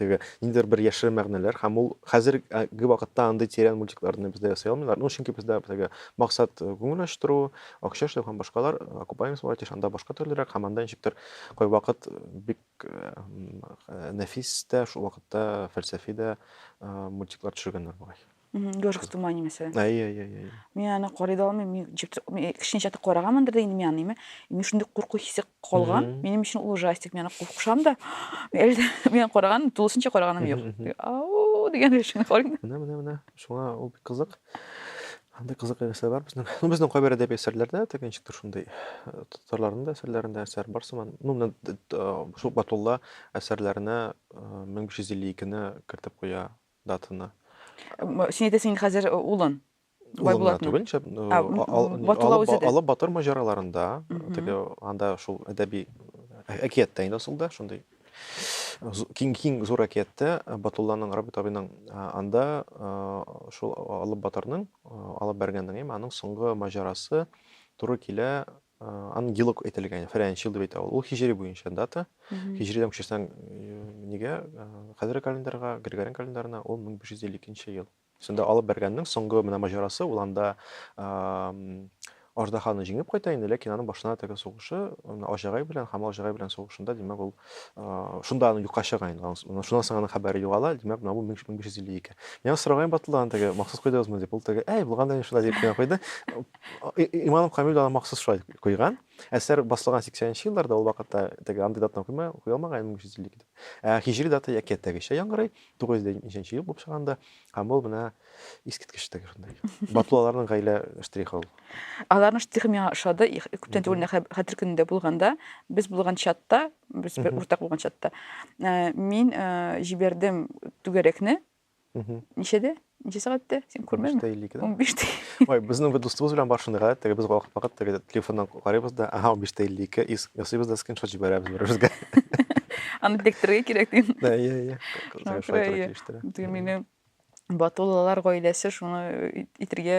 Теге, ниндидер бер яшерен мәгънәләр һәм ул хәзерге вакытта андый тирән мультикларны бездә ясый алмыйлар. Ну, чөнки бездә теге максат э, күңел ачтыру, акча эшләү һәм башкалар, окупаемость бара тиеш, анда башка төрлерәк һәм анда ничектер кайвакыт э, бик э, м, э, нәфис тә, шул вакытта фәлсәфи дә э, мультиклар төшергәннәр бугай. Ежик в тумане мәсәлән. Әй, әй, әй, әй. Мин аны карый да алмыйм, мин җеп кешенчә тә караганмындыр да инде мин аны, әйме. Мин шундый курку хисе калган, минем өчен ул ужастик, мин аны куркышам да. Әле дә мин караган, тулысынча караганым юк. Ау, дигән рәвешен карыйм. Менә, менә, менә. Шуңа ул бик кызык. Анда кызык нәрсә бар безнең. Ну, безнең кайбер әдәби әсәрләрдә тәкән чиктер шундый э, татарларның да әсәрләрендә әсәр бар сыман. Ну, менә э, шул Батулла әсәрләренә 1552-не э, кертеп куя да тына. Син әйтәсең инде хәзер улын. Улымны түгелчә, алып батыр маҗараларында, теге анда шул әдәби әкияттә инде асылда, шундый киң киң зур әкияттә Батулланың Рабит абыйның анда шул алып батырның алып бәргәннең, яме аның соңгы маҗарасы туры килә Ангилок әйтелгән, фәрәнч ел дип әйтә ул. Ул хиҗри буенча дата. Хиҗридән күчерсәң нигә? Хәзерге календарьга, Григориан календарына ул 1552 ел. Шунда алып бәргәннең соңгы менә маҗарасы, ул анда аждаһаны җиңеп кайта инде, ләкин аның башына теге сугышы, Аҗагай белән, Хамал Аҗагай белән сугышында, димәк, ул шунда аны юкка чыга инде. Шуннан соң аның хәбәре югала, димәк, менә бу 1552. Миңа сораган Батылдан теге, махсус куйдыгызмы дип, ул теге, әй, булган да шулай дип кенә куйды. Иманым Камил да махсус шулай куйган. Әсәр басылган 80-нче елларда, ул вакытта теге андый датаны куйма, куя алмаган 1350 дип. Ә хиҗри дата әкияттәгечә яңгырый, 950 ел булып чыганда, һәм ул менә искиткеч теге шундай. Батулаларның гаилә штрихы ул. Аларның штрихы миңа ошады. Күптән түгел нәкъ хәтер көнендә булганда, без булган чатта, без бер уртак булган чатта, мин җибәрдем түгәрәкне, ничәдә ничә сәгатьтә син күрмәдеңме унбиште илле икедә унбиште ой безнең бер дустыбыз белән бар шундыйга теге без вакыт вакыт теге телефоннан карыйбыз да ага унбиште илле ике ясыйбыз да скриншот җибәрәбез бер беребезгә аны тектерергә кирәк дим да иә иә кызлар шулай туры килештерә теге минем батуллалар гаиләсе шуны итергә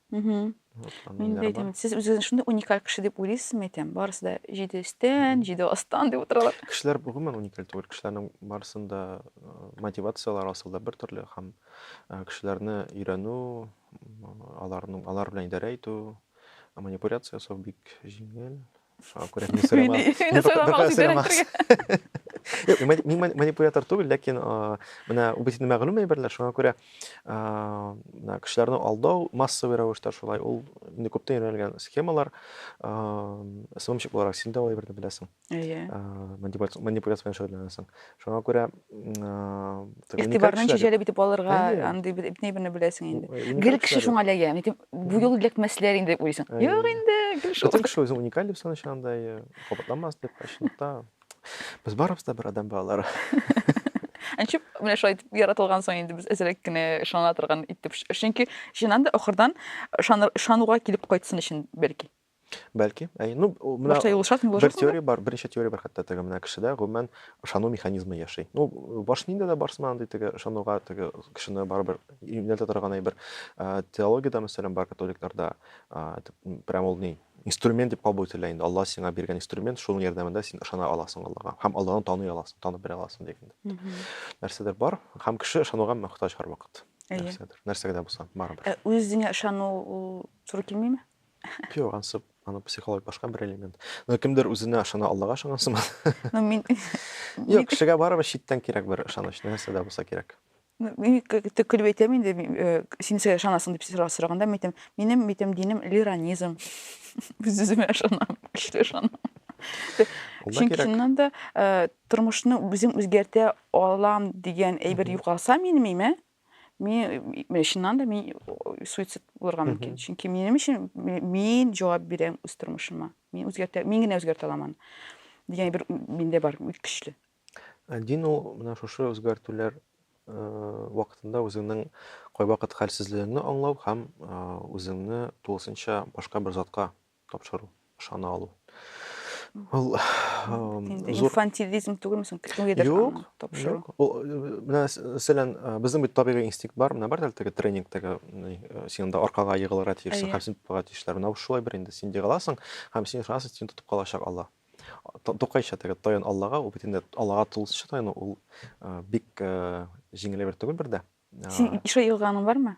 Мхм. Вот, аны Мин дә әйтәм, бар. сез үзегезне шундый уникаль кеше дип уйлыйсызмы, әйтәм. Барысы да җиде өстән, җиде астан дип утыралар. Кешеләр гомумән уникаль түгел. Кешеләрнең барысында э, мотивацияләр асылда бер төрле һәм э, кешеләрне өйрәнү, м, аларның алар белән идарә итү, манипуляция ясау бик җиңел. Шуңа күрә мин сөйләмәм. Мин сөйләмәм, сөйләмәм. Юк, мин манипулятор түгел, ләкин менә бу бит мәгълүм әйберләр, шуңа күрә менә кешеләрне алдау массовый рәвештә шулай, ул инде күптән өйрәнелгән схемалар. СММщик буларак син дә ул әйберне беләсең. Әйе. Манипуляция белән шөгыльләнәсең. Шуңа күрә игътибар нәтиҗәле битеп алырга андый бит ни берне беләсең инде гел кеше шуңа эләгә нитеп бу юлы эләкмәсләр инде дип уйлыйсың юк инде гел шул кеше үзен уникаль дип саный андай кабатламас дип чынлыкта без барыбыз да бер адам балалары ничек менә шулай итеп яратылган соң инде без әзрәк кенә ышана торган итеп чөнки чыннан да ахырдан ышануга килеп кайтсын өчен бәлки Бәлки. Әй, ну, менә Башта юлышасың, бер юлышасың. теория бар, беренче теория бар хәтта теге менә кешедә гомумән ышану механизмы яши. Ну, баш нинди дә барсын андый теге ышануга теге кешене барыбер юнәлтә торган әйбер. Ә, Теологиядә мәсәлән бар католикларда, а, итеп, м, прям ул ни, инструмент дип кабул ителә инде. Алла сиңа биргән инструмент, шуның ярдәмендә син ышана аласың Аллага һәм Алланы таный аласың, танып белә аласың дигәндә. Мгм. Нәрсәдер бар һәм кеше ышануга мөхтаҗ һәрвакыт. Әйе. Нәрсәдер, нәрсәгә дә булса, барыбер. Ә үзеңә ышану ул туры килмиме? Юк, ансы, аны психология башка бер элемент. Но кемдер үзенә ышана, Аллага ышанган сыман. Ну, мин... Юк, кешегә барыбер читтән кирәк бер ышаныч, нәрсә дә булса кирәк. Ну, мин көлеп әйтәм инде, э, син нәрсәгә ышанасың дип сораганда, мин әйтәм, минем, әйтәм, динем лиранизм. Үз үземә ышанам, көчле ышанам. Чөнки чыннан да э, тормышны үзем үзгәртә алам дигән әйбер югалса минем имә, мин чыннан да мин суицид булырга мөмкин чөнки минем өчен мин җавап бирәм үз тормышыма мин үзгәртә мин генә үзгәртә аламын дигән бер миндә бар көчле ә дин ул менә шушы үзгәртүләр вакытында үзеңнең кайвакыт хәлсезлегеңне аңлау һәм үзеңне тулысынча башка бер затка тапшыру, ышана алу. Ул инфантилизм түгелме соң? Кемгәдер юк, тапшыру. Менә мәсәлән, безнең бит табигый инстинкт бар, менә бар әлеге тренингтәге син анда аркага егылырга тиешсең, һәм син тотарга тиешләр. Менә шулай бер инде син егыласың, һәм син ышанасың, син тотып калачак Алла. Тукайча теге таян Аллага, ул бит инде Аллага тулысынча таяну, ул бик җиңел бер түгел бер дә. Син ише егылганың бармы?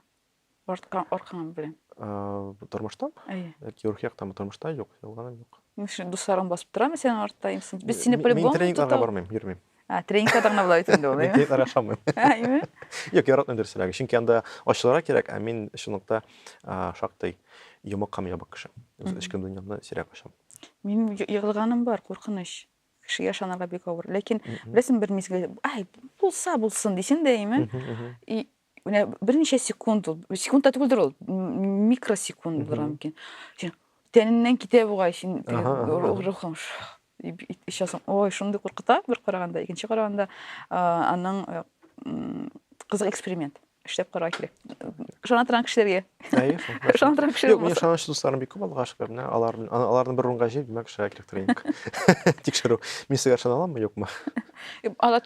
Арткан, аркан белән. Тормышта? Әйе. Яки рухи яктан тормышта юк, ялганым юк. Мин шуны дусларым басып торамы синең артта? Без сине по-любому Мин тренингка бармыйм, йөрмим. А, тренингка да гына булай инде ул. Мин тренингка яшамыйм. Әйме? Юк, яратмыйм дөресрәге. Чөнки анда ачылара кирәк, ә мин шунлыкта шактый йомык һәм ябык кеше. Үз эчке дөньямны сирәк ачам. Мин егылганым бар, куркыныч. кешегә ышанырга бик авыр ләкин беләсең бер мизгел ай булса булсын дисең дә әйме и менә берничә секунд ул секунд та түгелдер ул микросекунд булыр мөмкин тәненнән китә бугай син рухың ишасың ой шундый куркыта бер караганда икенче караганда аның э, кызык эксперимент эшләп карау кирәк ышана торган кешеләргә ышана торган кешеләр юк минем ышаныч дусларым бик күп аллага шөкер менә алар аларны бер урынга җыеп димәк эшләргә кирәктер инде тикшерү мин сезгә ышана аламмы юкмы алар